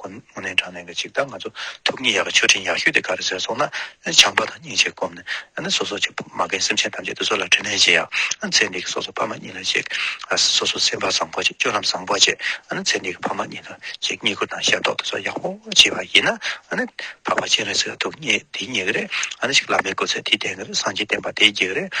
ཁོ་མོ་ནི་དྲང་ལན་གྱི་ཅིག་ལྟར་ང་ཚོ་ཐུགས་མཉེས་ཡག་གི་མཆོད་སྤྲིན་ཡག་ཤོས་དེ་ག་རེ་ཟེར་སོང་ན་བྱམས་པ་དང་སྙིང་རྗེ་བསྒོམ་ནས་ནི་སོ་སོ་ཆེ་ཕ་མ་རྒན་སེམས་ཅན་ཐམས་ཅད་དུ་སོ་ལ་དྲིན་ལན་བྱེད་ཡ་ཚེ་འདི་གི་སོ་སོ་ཕ་མ་གཉིས་ལ་བྱེད་སོ་སོ་སེམས་པ་བཟང་པོ་བྱེད་སྤྱོད་ལམ་བཟང་པོ་བྱེད་ཚེ་འདི་གི་ཕ་མ་གཉིས་ལ་བྱེད་བསྙེན་བཀུར་དང་ཞབས་ཏོག་དེ་ཚོ་ཡག་པོ་བྱེད་པ་ཡིན་ན་ནི་འཕགས་པ་སྤྱན་རས་གཟིགས་ལ་ཐུགས་མཉེས་དེ་མཉེས་ཀྱི་རེད་ཨ་ནི་ཞིག་བླ་མའི་སྐུ་ཚེ་དེ་ལྡན་གྱི་རེད་སངས་རྒྱས་བསྟན་པ་དེ་རྒྱས་ཀྱི་རེད་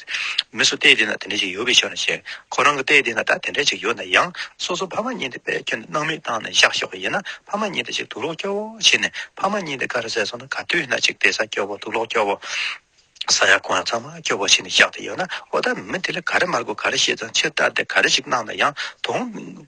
མི་སུ་ལྟས་དེ་ན་དེ་འདྲས་ཅིག་ཡོད་པའི་ཕྱིར་ན་ཞེས་ཁོ་རང་གི་ལྟས་དེ་ན་ད་དེ་འདྲས་ཅིག་ཡོད་ན་ཡང་སོ་སོ་ཕ་མ་གཉིས་འདི་པས་ཁྱོད་སྣང་མེད་བཏང་ནས་བཞག་ཤོག་ཡིན་ན་ཕ་མ་གཉིས་འདི་ཅིག་དུག་ལོག་སྐྱོ་བོ་བྱེད་ནས་ཕ་མ་གཉིས་འདི་ག་རེ་ཟས་སོང་ན་ག་དུས་ན་ཅིག་བལྟས་ས་སྐྱོ་བོ་དུག་ལོག་སྐྱོ་བོ། ས་ཡ་གང་ཡང་ཚང་མ་སྐྱོ་བོ་བྱེད་ནས་བཞག་དེ་ཡོད་ན་འོ་ད་མི་དེ་ལ་ག་རེ་མ་དགོས་ག་རེ་བྱེད་ཙང་ཕྱིར་བལྟ་དེ་ག་རེ་ཞིག་གནང་ན་ཡང་དུང།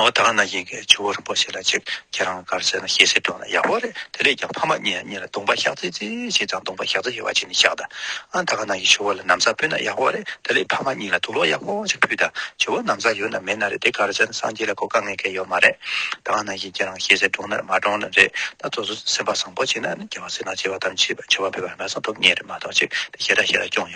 ཨོ་ད་ང་ན་ཡིན་གྱི་ཆུ་བོ་རིན་པོ་ཆེ་ལ་ཅིག་ཁྱེད་རང་གར་བྱས་ན་ཤེས་གསལ་དྲོན་ལ་ཡག་པོ་རེད་དེ་ལས་ཀྱང་ཕ་མ་གཉིས་གཉིས་ལ་དུང་པ་ཤག་ཙེ་ཙེ་ཞིག་དང་དུང་པ་ཤག་ཙེ་ཞེས་བ་ཅིག་ནས་བཞག་ད་ད་ག་ན་ཡི་ཆུ་བོ་ལ་ནམ་ཟ་ཕུལ་ན་ཡག་པོ་རེད་དེ་ལས་ཕ་མ་གཉིས་ལ་དུག་ལོག་ཡག་པོ་ཅིག་ཕུལ་ད་ཆུ་བོ་ནམ་ཟ་ཡོད་ན་མེད་ན་རེད་དེ་གར་བྱས་ན་སངས་རྒྱས་ལ་གོ་དཀའ་ངེས་གལ་ཡོད་མ་རེད་ད་ང་ན་ཡིན་ཁྱེད་རང་ཤེས་གསལ་དྲོན་ནར་མ་དྲོན་ནར་རེད་ད་ཚོ་ཚོ་སེམས་པ་བཟང་པོ་བྱས་ན་ནི་རྒྱལ་བ་སྲིད་ན་བྱེ་བ་དང་བྱེ་བ་བོད་པ་ཧ་མ་སངས་ཐོབ་ངེས་རེད་མ་གཏོགས་ཅིག་དེ་ཞེ་དྲག་ཞེ་དྲག་སྐྱོང་ཡོད།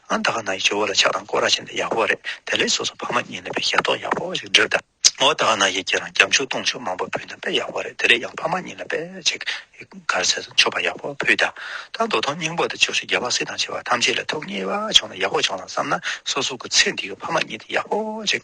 ཨ་ད་ག་ན་ཡི་སྤྱི་བོ་ལ་ཕྱག་དང་སྐོར་ར་བྱིན་ཏེ་ཡག་པོ་རེད་དེ་ལས་སོ་སོ་ཕ་མ་གཉིས་ལས་པའི་ཞབས་ཏོག་ཡག་པོ་ཞིག་འབྲི་ད་ཨོ་ད་ག་ན་ཡི་ཁྱེད་རང་སྐྱབས་འཇུག་གཏོང་ཆོག་མང་པོ་ཕུལ་ན་དཔེ་ཡག་པོ་རེད་དེ་ལས་ཡང་ཕ་མ་གཉིས་ལ་དཔེ་ཅིག་གར་སེ་སོ་མཆོད་པ་ཡག་པོ་ཕུལ་ད་ད་འདོ་དོང་སྙིང་པོ་དང་ཆོས་ཞུ་རྒྱལ་བ་སྲིད་དང་བྱེ་བ་ཐམས་ཅད་ལ་ཐུགས་མཉེས་པ་བྱུང་ན་ཡག་པོ་བྱུང་ལ་བསམ་ན་སོ་སོ་གི་ཚེ་འདི་གི་ཕ་མ་གཉིས་དེ་ཡག་པོ་ཅིག་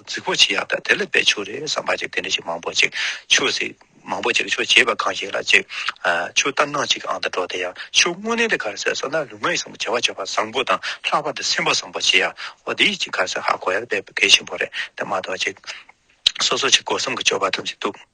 རྫིག་པོ་ཆེ་ཡང་དག་དེ་ལ་དཔེ་ཆོས་རེད་བསམ་པ་ཅིག་དེ་འདྲ་ཞིག་མང་པོ་ཅིག་ཆོས་ཟེར། མང་པོ་ཅིག་ཆོས་བྱེད་པ་གང་ཞིག་ལ་ཅིག། ཆོས་ལྟར་སྣང་ཅིག་ཨང་དང་འགྲོགས་དེ་ཡང་ཆོས་དངོས་གནས་དེ་གར་ཟེར་བསམ་ན་ལུས་ངག་ཡིད་གསུམ་གྱི་བྱ་བ་བྱ་བ་བཟང་པོ་དང་ལྷག་པར་དུ་སེམས་པ་བཟང་པོ་བྱེད་ཡག་པོ་འདི་ཅིག་གར་ཟེར་ཧ་གོ་ཡག་དཔེ་གལ་ཆེན་པོ་རེད་དེ་མ་གཏོགས་ཅིག། སོ་སོ་ཆེད་དགོས་བསམ་གྱི་སྤྱོད་པ་ཐམས་ཅད་འདུག།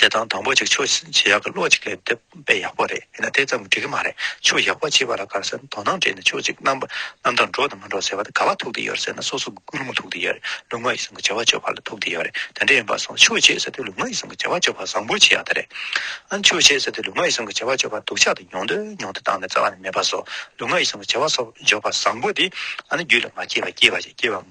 བྱེད་སྟངས་དང་པོ་གཅིག་ཆོས་བྱེད་ཡག་གི་བློ་གཅིག་ལས་འདེབས་པས་ཡག་པོ་རེད་ཡིན་ན་དེ་ཙམ་འགྲིག་གི་མ་རེད་ཆོས་ཡག་པོ་བྱེད་པ་ལ་དགའ་ཟེར་ན་དོ་སྣང་བྲལ་ནས་ཆོས་གཅིག་རྣམ་པ་རྣམ་དག་འགྲོ་དང་མ་འགྲོ་ཟེར་བ་དེ་ག་ལ་ཐུག་དེ་ཡོད་རེད་ཟེར་ན་སོ་སོ་གི་ཀུན་སློང་ཐུག་དེ་ཡོད་རེད་ལུས་ངག་ཡིད་གསུམ་གྱི་བྱ་བ་སྤྱོད་པ་ལ་ཐུག་དེ་ཡོད་རེད་དེ་འདྲ་ཡིན་པ་སོང་ཆོས་བྱེད་ཟེར་དུས་ལུས་ངག་ཡིད་གསུམ་གྱི་བྱ་བ་སྤྱོད་པ་བཟང་པོ་བྱེད་ཡག་དེ་རེད་ཨང་ཆོས་བྱེད་ཟེར་དུས་ལུས་ངག་ཡིད་གསུམ་གྱི་བྱ་བ་སྤྱོད་པ་སྡུག་ཆགས་དང་མྱོང་འདོད་མྱོང་འདོད་བཏང་ནས་རྩ་བ་ནས་མེད་པ་སོགས་ལུས་ངག་ཡིད་གསུམ་གྱི་བྱ་བ་སོགས་སྦྱོར་བ་བཟང་པོ་དེ་ཨ་ནི་རྒྱུད་ལ་མ་སྐྱེས་པ་སྐྱེས་པ་ཞིག་སྐྱེས་པ་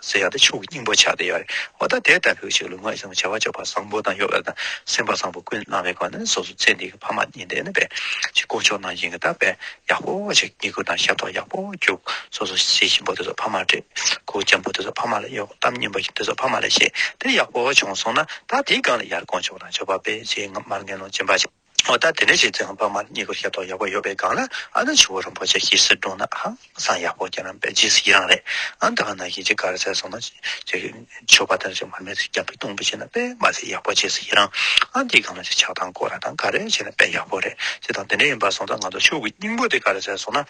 ཟེར་ཡག་ཏེ་ཆོས་ཀྱི་སྙིང་པོ་ཆགས་ཏེ་ཡོད་རེད་འོ་ད་དེ་ལྟ་བུའི་ཞིག་ལུང་ངག་ཡིན་ཟེར་བ་བྱ་བ་སྤྱོད་པ་བཟང་པོ་དང་གཡོ་བ་དང་སེམས་པ་བཟང་པོ་ཀུན་སྣང་བའི་སྒོ་ནས་སོ་སོ་ཚེ་འདི་གི་ཕ་མ་གཉིས་འདས་ནས་པའི་ཕྱིར་དཀོན་མཆོག་རྣམས་ཡིན་གྱི་ད་པའི་ཡག་པོ་ཞིག་སྐྱེ་དགུ་དང་ཤ་ཐོག་ཡག་པོ་རྒྱུག་སོ་སོ་ཤེས་བཞིན་པོ་དེ་ཚོ་ཕ་མ་བྲེད་གུ་ཅན་པོ་དེ་ཚོ་ཕ་མ་ལ་གཡོ་གཏམ་སྙན་པོ་ཞིག་དེ་ཚོ་ཕ་མ་ལ་བཤད་དེ་ཡག་པོ་བྱུང་སོང་ན་ད་དེའི་སྒང་ལ་ཡར་དཀོན་མཆོག་དང་ཆོས་པ་པའི་རྗེས་མར་མཁན་ནོར་སྦྱིན་པ་ཞིག། འོ་ད་དེ་འདྲ་བྱས་ཙང་བར་མར་གཉིས་ཀ་ཤ་རྡོག་ཡག་པོ་ཡོད་པའི་སྒང་ལ་ཨ་ན་ཆུ་བོ་རིན་པོ་ཆེ་ཞེས་ཟེར་འདུག་ན་ཧང་སང་ཡག་པོ་ཀྱང་རེད་རྗེས་སུ་ཡི་རང་རེད་ཨང་ད་ག་ནང་བཞིན་ཅིག་ག་རེ་བྱས་སོང་ན་ཅིག་ཆོས་པ་དེ་ཚོས་མར་མེ་ཚོས་རྒྱབ་པའི་གཏུམ་པོ་བྱས་ན་དཔེ་མ་ཟད་ཡག་པོ་རྗེས་སུ་ཡི་རང་ཨང་དེའི་སྒང་ལ་ཅིག་ཆགས་སྡང་སྐོར་ར་དང་ག་རེ་བྱས་ན་དཔེ་ཡག་པོ་རེད་ཅེས་དང་དེ་འདྲ་ཡིན་པ་སོང་ཙང་ང་ཚོ་ཕྱུག་གི་སྙིང་པོ་དེ་ག་རེ་བྱས་སོང་ན།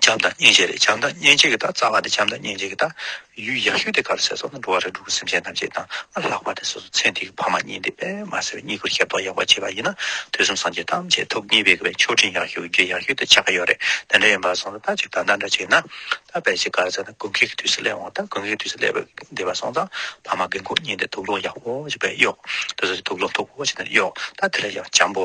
བྱམས་དང་སྙིང་རྗེ་རེད་བྱམས་དང་སྙིང་རྗེ་གི་དང་རྩ་བ་དེ་བྱམས་དང་སྙིང་རྗེ་གི་དང། ཡུལ་ཡག་ཤོས་དེ་ག་ལ་ཟེར་སོང་ན་འགྲོ་བ་རེ་འགྲོ་ཀུན་སེམས་ཅན་ཐམས་ཅད་དང་ཨ་ལྷག་པ་དེ་སོ་སོ་ཚེ་འདི་གི་ཕ་མ་གཉིས་འདི་པད་མ་ཟེར་བའི་གཉིས་ཀུན་ཤེས་རྟོགས་ཡག་པོ་བྱས་པ་ཡིན་ན་དུས་གསུམ་སངས་རྒྱས་ཐམས་ཅད་ཐུགས་མཉེས་པའི་གི་ཆོས་ཕྲིན་ཡག་ཤོས་རྒྱུད་ཡག་ཤོས་དེ་ཆགས་ཀྱི་ཡོད་རེད་དེ་འདྲ་ཡིན་པ་སོང་ཙང་ད་ཅིག་ད་ལྟ་འདྲ་ཅིག་ན་ད་བལ་ཆེ་ག་ལ་ཟེར་ན་དགུན་ཁའི་གི་དུས་སུ་སླེབས་འོང་ད་དགུན་ཁའི་དུས་སུ་སླེབས་པའི་འདི་བ་སོང་ཙང་ཕ་མ་རྒན་འཁོགས་གཉིས་འདི་དུག་སློང་ཡག་པོ་བྱས་པས་གཡོག་དུས་སུ་དུག་སློང་ཐུག་པོ་བྱས་ནས་གཡོག་ད་དེ་ལ་ཡང་བྱམས་པོ་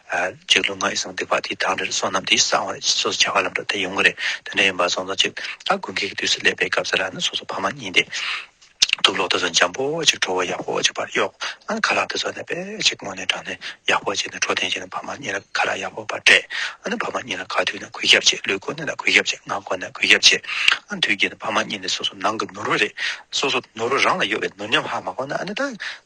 གཅིག་ལུས་ངག་ཡིད་གསང་འདུས་པ་དེའི་དང་རེར་བསོད་ནམས་དེའི་གསང་བ་སོ་སོ་བྱ་བ་ལམ་འགྲོ་དེ་ཡོང་གི་རེད་དེ་འདྲ་ཡིན་པ་སོང་ཙང་ཅིག་ཨ་དགོན་ཁྱེད་ཀྱི་དུས་སུ་སླེབས་པའི་སྐབས་ཟེར་ལ་ནི་སོ་སོ་ཕ་མ་གཉིས་དེ་དུག་ལོག་དེ་ཚོ་འཇམ་པོ་ཅིག་ཁྲོ་བོ་ཡག་པོ་ཅིག་པར་གཡོག་ཨ་ཁ་ལག་དེ་ཚོ་ནི་དཔེ་ཅིག་སྔོན་ནས་དྲངས་ནས་ཡག་པོ་བྱས་ནས་འཕྲོ་བསྟེན་བྱས་ནས་ཕ་མ་གཉིས་ལ་ཁ་ལག་ཡག་པོ་པར་སྤྲད་ཨ་ནི་ཕ་མ་གཉིས་ལ་ཁ་དུས་ནི་གུས་ཞབས་བྱེད་ལུས་གོ་ནི་ལ་གུས་ཞབས་བྱེད་ངག་གོ་ནི་ལ་གུས་ཞབས་བྱེད་ཨ་དུས་ཀྱི་ནི་ཕ་མ་གཉིས་ནི་སོ་སོ་ནང་གི་ནོར་བུ་རེད་སོ་སོ་ནོར་བུ་རང་ལ་ཡོད་པའི་ནོར་ཉམས་ཧ་མ་གོ་ན་ཨ་ནི་ད་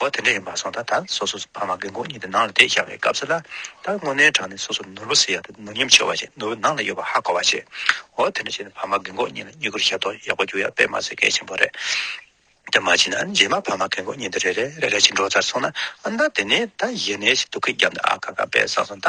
འོ་དེ་འདྲ་ཡིན་པ་སོང་ད་ད་སོ་སོ་ཕ་མ་དགེ་འགོ་གཉིས་དེ་ནང་ལ་བསྡད་ཤག་བའི་སྐབས་སུ་ལ་ད་དངོས་གནས་དྲང་ནས་སོ་སོ་ནོར་བུ་ཟེར་ཡག་དེ་ནོར་ཉམས་ཆེ་བ་ཞིག་ནོར་བུ་ནང་ལ་ཡོད་པ་ཧ་གོ་བ་ཆེ་འོ་དེ་འདྲ་བྱས་ནས་ཕ་མ་དགེ་འགོ་གཉིས་ལ་གཉིས་ཀར་ཞབས་ཏོག་ཡག་པོ་རྒྱུག་ཡག་དཔེ་མ་ཟེར་གལ་ཆེན་པོ་རེད་དེ་མ་བྱས་ན་རྗེས་མ་ཕ་མ་དགེ་འགོ་གཉིས་འདི་རེ་རེ་རེ་རེ་བྱས་འགྲོ་ཚར་སོང་ན་ཨ་མདའ་དེ་ནས་ད་ཡེ་ནས་ཞིག་དུ་ཁའི་རྒྱབ་ན་ཨ་ཁ་ཁ་དཔེ་བཟང་བཟང་ད་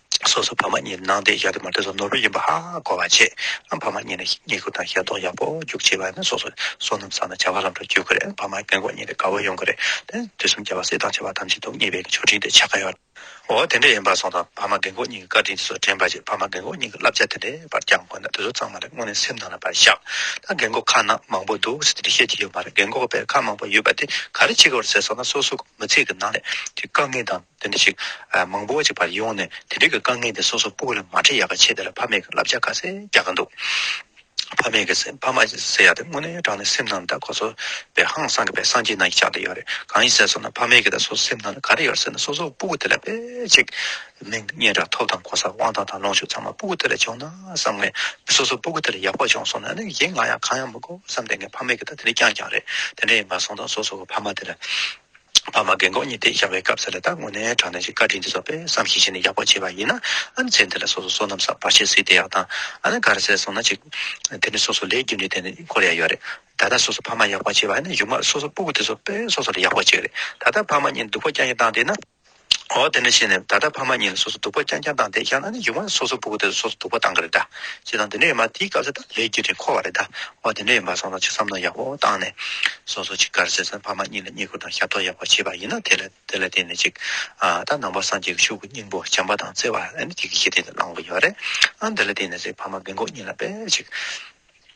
སོ་སོ་བར་མ་གཉིས་ནང་བསྟན་ཞག་དེ་མ་ཐོས་སམ་ནོར་བུ་ཡིན་པ་ཧ་གོ་བར་བྱེད་ཨང་བར་མ་གཉིས་ནི་རྙེད་བཀུར་དང་ཞལ་འདོགས་ཡག་པོ་རྒྱུགས་ཆེ་བ་ཡིན་ན་སོ་སོ་སོ་ནམ་བསགས་ན་བྱ་བ་ལམ་འགྲོ་བསྐྱོད་དགོས་རེད་བར་མ་སྐྱེ་འགོག་གཉིས་ནི་དགའ་བོ་ཡོང་གི་རེད་དེ་དུས་གསུམ་རྒྱལ་བ་སྲས་དང་བྱ་བ་ཐམས་ཅད་དུ་ངེས་པའི་ཆོག་ཕྲིན་དེ་ཆགས་ཀ་ཡོད། འོ་དེ་འདྲ་ཡིན་པར་སོང་དང་བར་མ་སྐྱེ་འགོག་གཉིས་ཀྱི་བཀའ་དྲིན་དེ་ཚོ་དྲན་པར་བྱེད་བར་མ་སྐྱེ་འགོག་གཉིས་ཀྱི་བསླབ་བྱ་དེ་འདྲའི་བར་བསྐྱངས་དགོས་ན་དེ་ཚོ་ཚང་མ་ལས་དངོས་གནས་སེམས་ནང་ལ་བར་བཞག་ད་རྒན་འགོག་ཁ་ན་མང་པོ་འདུག་ཟེར་དེ་འདྲ་བཤད་ཀྱི་ཡོད་མ་རེད་རྒན་འགོག་པའི་ཁ་མང་པོ་ཡོད་པ་དེ་ག་རེ་བྱེད་དགོས་རེད་ཟེར་སོང་ན་སོ་སོ་མི་ཚེ་གི་ནང་ལས་ཀྱི་དཀའ་ངལ་དང། དེ་འདྲ་ཞིག་མང་པོ་ཅིག་བར་ཡོང་ནས་དེ་འདྲིག་གི་དཀའ་ངལ་དེ་སོ་སོ་པུ་ལ་མ་འཕྲད་ཡག་ག་ཆེ་དེ་ལ་ཕ་མེས་ཀྱི་ལབ་ཆ་ག་ཚད་རྒྱག་ག་འདུག་ཕ་མེས་ཀྱི་ཕ་མ་ཟེར་ཡག་དེ་དངོས་གནས་དྲང་ནས་སེམས་ནང་ད་ཁོ་ཚོ་བའི་ཧང་སང་གི་བའི་སངས་རྒྱས་ནང་གི་ཆགས་དེ་ཡོད་རེད་གང་ཡིན་ཟེར་སོང་ན་ཕ་མེས་ཀྱི་ད་སོ་སེམས་ནང་ད་ག་རེ་ཡོད་ཟེར་ན་སོ་སོ་པུ་གུ་དེ་ལ་དཔེ་ཅིག་མིང་སྙན་གྲགས་ཐོབ་དང་གོ་ས་དབང་ཐང་དང་ལོངས་སྤྱོད་ཚང་མ་པུ་གུ་དེ་ལ་བྱུང་ན་བསམ་ངེས་སོ་སོ་པུ་གུ་དེ་ལ་ཡག་པོ་བྱུང་སོང་ན་ནི་ཡིན་ང་ཡང་གང་ཡང་མི་དགོས་བསམ་དེ་ངས་ཕ་མེས་ཀྱི་ད་དེ་འདྲིག་རྐྱང་རྐྱང་རེད་དེ་འདྲ་ཡིན་པ་སོང་དང་སོ་སོ་གི་ཕ་མ་དེ་ལ། ཕ་མ་རྒན་འཁོགས་གཉིས་ཏེ་ཞག་པའི་སྐབས་སུ་ལས་དང་དངོས་གནས་དྲང་གནས་ཀྱི་བཀའ་དྲིན་དེ་ཚོགས་པས་བསམ་ཤེས་བྱས་ནས་ཡག་པོ་བྱས་པ་ཡིན་ན། ཨ་ནི་ཚེ་འདི་ལ་སོ་སོ་བསོད་ནམས་བསགས་པར་བྱེད་སྲིད་དེ་ཡག་དང། ཨ་ནི་ག་རེ་བསད་སོང་ན་ཅིག། དེ་ནི་སོ་སོ་ལས་རྒྱུ་འབྲས་དེ་ནི་འཁོར་ཡག་ཡོད་རེད། ད་ལྟ་སོ་སོ་ཕ་མ་ཡག་པར་བྱས་པ་ཡིན་ན་གཞུག་མ་སོ་སོ་སྤོ་བོ་དེ་ཚོགས་པས་སོ་སོ་ལ་ཡག་པར་བྱས་རེད། ད་ལྟ་ཕ་མ་གཉིས་སྡུག་པོ་རྐྱང་གྱི་བཏང་དེ་ན། འོ་དེ་འདྲ་བྱས་ནས་ད་ལྟ་ཕ་མ་གཉིས་ལ་སོ་སོ་སྡུག་པ་རྐྱང་རྐྱང་བཏང་སྟེ་ཡང་ན་ནི་ཡུག་མ་ལ་སོ་སོ་བུ་གུ་དེ་ལ་སོ་སོ་སྡུག་པ་བཏང་གི་རེད་དཱ། ཅེས་དང་དེ་འདྲ་ཡོད་མ་དེའི་སྐབས་སུ་ད་ལས་ཀྱི་རིགས་འཁོར་བ་རེད་དཱ། འོ་དེ་འདྲ་ཡིན་པ་སོང་ཙང་ཅི་བསམ་མནོ་ཡག་པོ་བཏང་ནས། སོ་སོ་ཅིག་གར་བྱས་ཙང་ཕ་མ་གཉིས་ལ་གཉིས་བཀུར་དང་ཞབས་ཏོག་ཡག་པོ་བྱས་པ་ཡིན་ན་དེ་ལ་དེ་ལ་བརྟེན་ནས་ཅིག། ད་ནང་པ་སངས་རྒྱས་ཀྱི་ཤུགས་ཀྱི་སྙིང་པོ་བྱམས་པ་དང་བརྩེ་བ་ཨ་ནི་དེ་གི་ཞི་བདེ་དེ་བླང་བ་ཡིན་པ་རེད། ཨ་འདི་ལ་བརྟེན་ནས་ཅིག་ཕ་མ་མི་འགོག་གཉིས་ལ་དཔེ་ཅིག།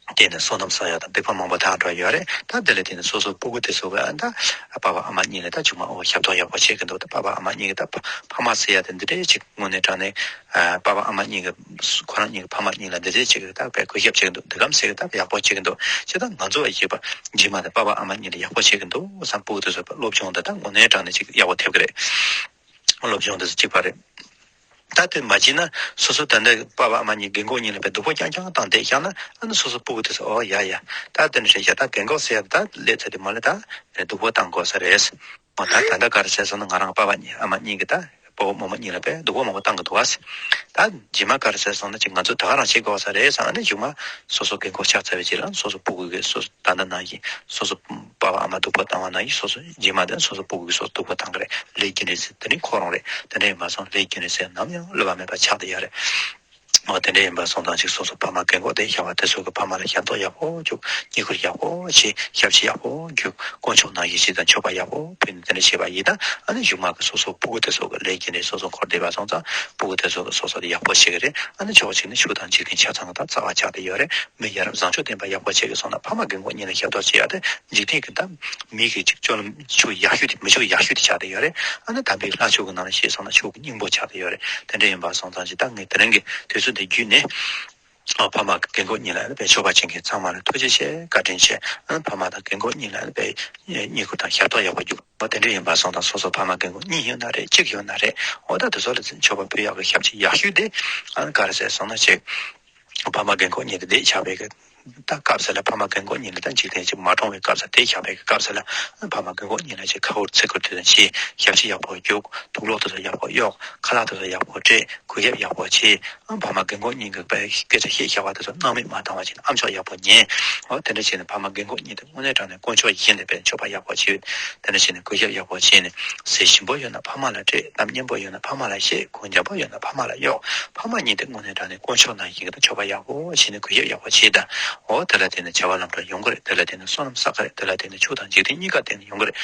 བརྟེན་ནས་སོ་ནམ་སོ་ཡག་དང་བེ་ཕོ་མང་པོ་དག་འགྲོ་ཡོད་རེད་ད་དེ་ལ་བརྟེན་ནས་སོ་སོ་སྤུ་གུ་དེ་ཚོ་གི་ད་བ་བ་ཨ་མ་གཉིས་ལ་ད་ཆུང་མ་འོ་ཞབས་ཏོག་ཡག་པོ་བྱེད་གི་འདུག་ད་བ་བ་ཨ་མ་གཉིས་ཀྱི་ད་ཕ་མ་སི་ཡ་དེ་འདི་འདྲས་ཅིག་དངོས་གནས་དྲང་ནས་བ་བ་ཨ་མ་གཉིས་ཀྱི་ཁོ་རང་གཉིས་ཀྱི་ཕ་མ་གཉིས་ལ་འདི་འདྲས་ཅིག་གི་ད་བས་གུས་ཞབས་བྱེད་གི་འདུག་འདི་གམ་སེ་གི་ད་ཡག་པོ་བྱེད་གི་འདུག་ཅེ་ད་ང་ཚོ་བ་ཡིས་བ་རྗེས་མ་དེ་བ་བ་ཨ་མ་གཉིས་ལ་ཡག་པོ་བྱེད་གི་འདུག་བསམ་སྤུ་གུ་དེ་ཚོ་བ་སློབ་སྦྱོང་དེ་ད་དངོས་གནས་དྲང་ནས་ཅིག་ཡག་པོ་ཐེབས་གི་རེད་སློབ་སྦྱོང་དེ་ཚོ་ཅིག་བ་རེད། ད་དེ་མ་བྱིན་ན་སོ་སོ་དེ་འདྲ་དཔའ་བ་མ་གཉིས་རྒན་གོག་གཉིས་ལ་བའི་སྡུག་པོ་རྐྱང་རྐྱང་བཏང་དེ་བཞག་ན་ཨ་ནི་སོ་སོ་སྤུ་གུ་དེ་ཟེར་ཨོ་ཡ་ཡ་ད་དེ་འདྲ་ཞིག་བྱས་ད་རྒན་གོག་ཟེར་ཡ་ད་ལས་ཚེ་དེ་མ་ལས་ད་རེ་སྡུག་པོ་བཏང་དགོས་ས་རེད། མོ་ད་ད་འདྲ་ག་རེ་བྱས་སོང་ན་ང་རང་དཔའ་བ་གཉིས་ཨ་མ་གཉིས་ཀྱི་ད་སྤོ་བོ་རྨོ་མོ་གཉིས་ལ་བའི་སྡུག་པོ་མང་པོ་བཏང་གི་འདུག་གཟིགས་ད་རྗེས་མ་ག་རེ་བྱས་སོང་ན་ཅིག་ང་ཚོ་ད་ག་རང་བྱེད་དགོས་ས་རེད་ཟེར་ཨ་ནི་གཞུག་མ་སོ་སོ་རྒན་གོག་ཆགས་ཚར་བའི་རྗེས་ལ་སོ་སོ་སྤུ་གུ་གི་སོ་སོ་ད་འདྲ་ན་ཡིན་སོ་སོ་པ་བ་ཨ་མ་འདུག་པ་བཏང་བ་ན་ཡིག་སོགས་སུ་རྗེས་མ་དེ་སོ་སོ་པོ་དགུ་ཡིག་སོགས་འདུག་པ་བཏང་གི་རེད་ལས་རྒྱུན་རིང་ཚེ་དེ་ནི་ཁོ་རང་རེད་དེ་འདྲ་ཡིན་པ་སོང་ལས་རྒྱུན་རིང་ཚེ་ནམ་ཡང་བསླུ་བ་མེད་པ་ཆགས་བསྡད་ཡག་རེད་མོ་དེ་འདྲ་ཡིན་པ་སོང་ཐང་ཅིག་སོ་སོ་ཕ་མ་རྒན་འཁོགས་དེ་ཤ་བ་དེ་ཚོ་གི་ཕ་མ་ལ་ཞབས་ཏོག་ཡག་པོ་རྒྱུག་སྙིགས་ཁུར་ཡག་པོ་བྱེད་ཞབས་ཕྱི་ཡག་པོ་རྒྱུག་དཀོན་མཆོག་ནང་ཡིད་ཆེས་དང་མཆོད་པ་ཡག་པོ་ཕུལ་ནས་དེ་འདྲ་བྱེད་པ་ཡིན་ན་ཨ་ནི་གཞུག་མ་གི་སོ་སོ་པོ་དགུ་དེ་ཚོ་གི་ལས་རྒྱུན་རིང་སོ་སོ་འཁོར་བསྡད་པ་སོང་ཙང་པོ་དགུ་དེ་ཚོ་གི་སོ་སོ་དེ་ཡག་པོ་བྱེད་གི་རེད་ཨ་ནི་ཕྱོགས་གཅིག་ནས་ཕྱུགས་དང་འཇིག་རྟེན་ཆ་ཚང་གི་ད་རྩ་བ་ཆགས་བསྡད་ཡོད་རེད་མི་ཡ་རབས་བཟང་ཕྱོགས་བསྟན་པ་ཡག་པོ་བྱེད་དགོས་སོང་ན་ཕ་མ་གི་མགོ་གཉིས་ལ་ཞབས་ཏོག་བྱེད་ཡག་སྟེ་འཇིག་རྟེན་གྱི་དམ་མི་གི་ཅིག་ཅོར་ལ་ཆུ་ཡག་ཤོས་དེ་མི་ཆུ་ཡག་ཤོས་དེ་ཆགས་དེ་ཡོད་རེད་ཨ་ན་དམ་པའི་ལྷ་ཆོས་ཀྱི་ནང་ལ་ཤེས་སོང་ན་ཆོས་ཀྱི་སྙིང་པོ་ཆགས་དེ་ཡོད་རེད་དེ་འདྲ་ཡིན་པ་སོང་ཙང་ཅི་ད་ངས་དེ་རིང་གི་དུས་ཚོད་འདི་བརྒྱུད་ནས་ཕ་མ་གི་མགོ་གཉིས་ལ་ལ་བའི་ཆོས་པ་ཅན་གྱི་ཚང་མ་ལ་ཐུགས་རྗེ་ཆེ་བཀའ་དྲིན་ཆེ་ཕ་མ་དང་གི་མགོ་གཉིས་ལ་ལ་བའི་བསྙེན་བཀུར་དང་ཞབས་ཏོག་ཡག་པོ་རྒྱུག་པ་དེ་འདྲ་ཡིན་པ་སོང་ཙང་སོ་སོ་ཕ་མ་གི་མགོ་གཉིས་ཡོད་ན་རེད་གཅིག་ཡོད་ན་རེད་འོ་ད་དེ་ཚོ་ལ་ཆོས་པ་བུ་ཡག་གི་ཞབས་ཕྱི་ཡག་ཤོས་དེ་ཨ་ན་ག་རེ་བྱས་སོང་ན་བྱས། ཕ་མ་རྒན་འཁོགས་གཉིས་ཀྱི་སྡེས་བྱ་བའི་སྐབས་སུ་ལ་ཕ་མ་རྒན་འཁོགས་གཉིས་ལ་དང་འཇིག་རྟེན་གཅིག་མ་གྲོངས་བའི་སྐབས་སུ་སྡེས་བྱ་བའི་སྐབས་སུ་ལ་ཕ་མ་རྒན་འཁོགས་གཉིས་ལ་ཅིག་ཁ་ཧུར་ཚིག་ཁུར་དུས་དང་ཕྱིས་ཞབས་ཕྱི་ཡག་པོ་རྒྱུག་ཐུགས་ལོག་དུས་སུ་ཡག་པོ་གཡོག་ཁ་ལག་དུས་སུ་ཡག་པོ་སྤྲད་གུས་ཞབས་ཡག་པོ་བྱེད་ཕ་མ་རྒན་འཁོགས་གཉིས་ཀྱི་སྐད་ཆ་བཤད་བྱ་བ་དུས་སུ་སྣང་མེད་མ་བཏང་བ་བྱེད་ཨམ་ཆོག་ཡག་པོ་ཉན་འོ་དེ་འདྲ་བྱས་ནས་ཕ་མ་རྒན་འཁོགས་གཉིས་དེ་དངོས་གནས་དྲང་དཀོན་མཆོག་ཡིད་བཞིན་ལེགས་པའི་མཆོད་པ་ཡག་པོ་བྱེད། དེ་འདྲ་བྱས་ནས་གོས་ཞབས་ཡག་པོ་བྱས་ནས་ཟས་ཞིམ་པོ་ཡོད་ན་ཕ་མ་ལ་སྤྲད་གནམ་སྙན་པོ་ཡོད་ན་ཕ་མ་ལ་བཞེས་གོས་འཇམ་པོ་ཡོད་ན་ཕ་མ་ལ་གཡོག་ཕ་མ་གཉིས་དེ་སྔོན་ནས་འདྲ་ནས་དཀོན་མཆོག་ནང་བཞིན་གྱི་དང་མཆོད་པ་ཡག་པོ་བྱས་ནས་གོས་ཞབས་ཡག་པོ་བྱས་ད་འོ་དེ་ལ་བརྟེན་ནས་བྱ་བ་ལམ་འགྲོ་ཡོང་གི་རེད་དེ་ལ་བརྟེན་ནས་སོ་ནམ་བསགས་ཀྱི་རེད་དེ་ལ་བརྟེན་ནས་ཕྱུགས་དང་འཇིག་རྟེན་གཉིས་ཀ་བརྟེན་ནས་ཡོང་གི་རེད་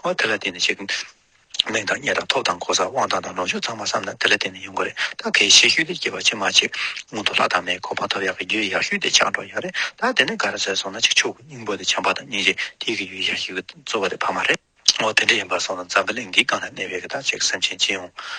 འོ་དེ་ལ་བརྟེན་ནས་བྱེད་གླིང་དང་གཉེར་དང་ཐོབ་དང་གོ་ས་དབང་ཐང་དང་ལོངས་སྤྱོད་ཚང་མ་བསམ་ན་དེ་ལ་བརྟེན་ནས་ཡོང་གི་རེད་ད་གལ་ཤེས་ཤུལ་དེ་སྐྱེས་པ་ཕྱི་མ་ཆེ་སྔོན་དུ་ལྷ་དང་མའི་གོ་འཕང་ཐོབ་ཡག་གི་རྒྱུ་ཡག་ཤུལ་དེ་ཆགས་འགྲོ་ཡག་རེད་ད་དེ་ནས་ག་རེ་བཟས་སོང་ན་ཆིག་ཆོག་གི་སྙིང་པོ་དེ་བྱམས་པ་དང་སྙིང་རྗེ་དེ་གི་ཡུལ་ཡག་ཤོས་གི་རྩོལ་བ་དེ་ཕ་མ་རེད། ཨོ་དེ་འདྲ་ཡིན་པར་སོང་ན་འཛམ་བུ་གླིང་འདིའི་སྒང་ན་གནས་པའི་གི་དག་ཅིག་སེམས་ཅན་སྤྱི་ཡོངས་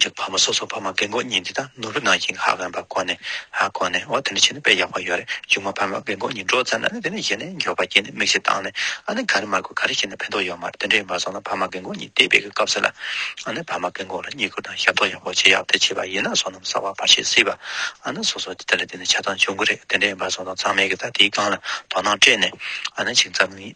ཅིག་ཕ་མ་སོ་སོ་ཕ་མ་རྒན་གོག་གཉིས་འདི་དང་ནོར་བུ་ནང་བཞིན་ཧ་གོན་པ་གོ་ནས་ཧ་གོ་ནས་འོ་དེ་འདྲ་བྱས་ན་དཔེ་ཡག་པོ་ཡོད་རེད་ཅུང་མ་ཕ་མ་རྒན་གོག་གཉིས་འགྲོ་ཙམ་ན་ནི་དེ་ནས་གཞི་ནས་མགྱོགས་པ་བསྐྱེད་ནས་མིག་ཤེལ་བཏང་ནས་ཨ་ནི་ག་རེ་མ་དགོས་ག་རེ་བྱས་ན་ཕན་ཐོག་ཡོད་མ་རེད་དེ་འདྲ་ཡིན་པ་སོང་ན་ཕ་མ་རྒན་གོག་གཉིས་དེ་བས་ཀྱི་སྐབས་སུ་ལ་ཨ་ནི་ཕ་མ་རྒན་གོག་ལ་བསྙད་བཀུར་དང་ཞབས་ཏོག་ཡག་པོ་བྱེད་ཡག་དེ་བྱས་པ་ཡིན་ན་སོ་ནམ་ཟ་བ་བ་ཤེས་སྲིད་པ་ཨ་ནི་སོ་སོ་དེ་ལ་བརྟེན་ནས་ཆགས་སྡང་བྱུང་གི་རེད་དེ་འདྲ་ཡིན་པ་སོང་ན་ཚང་མས་ཀྱི་ད་དེའི་སྒང་ལ་དོ་སྣང་སྤྲད་ནས་ཨ་ནི་ཅིག་འཛམ་གླིང།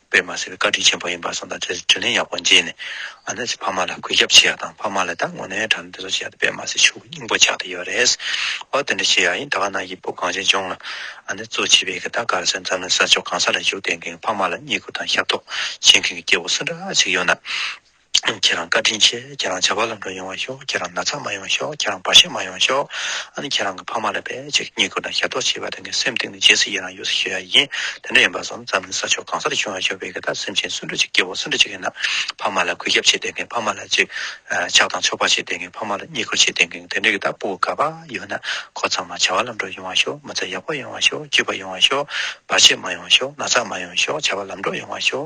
པས་མ་ཟེར་བའི་བཀའ་དྲིན་ཆེན་པོ་ཡིན་པར་སོང་དང་བཅས་ཏེ་དྲིན་ལན་ཡག་པོ་འཇལ་ནས་ཨ་ནེ་ཚོས་ཕ་མ་ལ་གུས་ཞབས་བྱེད་ཡག་དང་ཕ་མ་ལ་ད་ངོ་ནའི་གྲ་ནས་འདི་ཚོ་བྱེད་ཡག་དེ་པས་མ་ཟེར་ཕྱུག་སྙིང་པོ་ཆགས་ཏེ་ཡོད་རེད་ཨོ་དེ་འདྲ་བྱེད་ཡག་ཡིན་ད་ག་ནང་གི་བུ་གངས་ཅན་ལྗོངས་ལ་ཨ་ནེ་གཙོ་བྱས་པའི་གི་ད་གར་སོན་ཙམ་ལ་ས་ཕྱོགས་གང་ས་ལ་བཞུགས་དེ་མཁན་གི་ཕ་མ་ལ་བསྙད་བཀུར་དང་ཞབས་ཏོག་བྱེད་མཁན་གི་སྐྱེ་བོ་སུ་འདྲ་ཞིག་ཡོད་ན། ཁྱེད་རང་བཀའ་དྲིན་ཆེ་ཁྱེད་རང་བྱ་བ་ལམ་འགྲོ་ཡོང་བ་ཤོག་ཁྱེད་རང་ན་ཚ་མ་ཡོང་ཤོག་ཁྱེད་རང་བར་ཤ་མ་ཡོང་ཤོག་ཨ་ནི་ཁྱེད་རང་གི་ཕ་མ་ལ་བེད་སྤྱད་ཀྱི་སྙིང་ཁུ་དང་ཞབས་ཏོག་བྱེད་པ་དེ་ངའི་སེམས་གཏིང་ནས་རྗེས་སུ་ཡི་རང་ཡོད་ས་ཞུ་ཡ་ཡིན་དེ་འདྲ་ཡིན་པ་བཟང་རྩ་མི་ཟ་ཆོག་གང་སར་བྱུང་བ་ཤོར་བའི་གི་ད་སེམས་ཅན་སུན་ཕྲོག་ཅིག་སྐྱེ་བོ་སུན་ཕྲོག་ཅིག་ཡིན་ན་ཕ་མ་ལ་གུས་ཞབས་བྱེད་བསྡད་མཁན་ཕ་མ་ལ་ཅིག་ཆགས་དང་ཆོག་པ་བྱེད་བསྡད་མཁན་ཕ་མ་ལ་བརྙས་བཀུར་བྱེད་བསྡད་མཁན་དེ་འདྲ་གི་ད་སྤུ་གུ་ག་པ་ཡོད་ན་ཁོ་ཚང་མ་བྱ་བ་ལམ་འགྲོ་ཡོང་བ་ཤོག་མི་ཚེ་ཡག་པོ་ཡོང་བ་ཤོག་སྐྱིད་པ་ཡོང་བ་ཤོག་བར་ཆད་མ་ཡོང་ཤོག་ན་ཚ་མ་ཡོང་ཤོག་བྱ་བ་ལམ་འགྲོ་ཡོང་བ་ཤོག་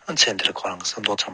ཨ་མཚན་འདིར་ཁོ་རང་གི་བསམ་དོང་ཚང་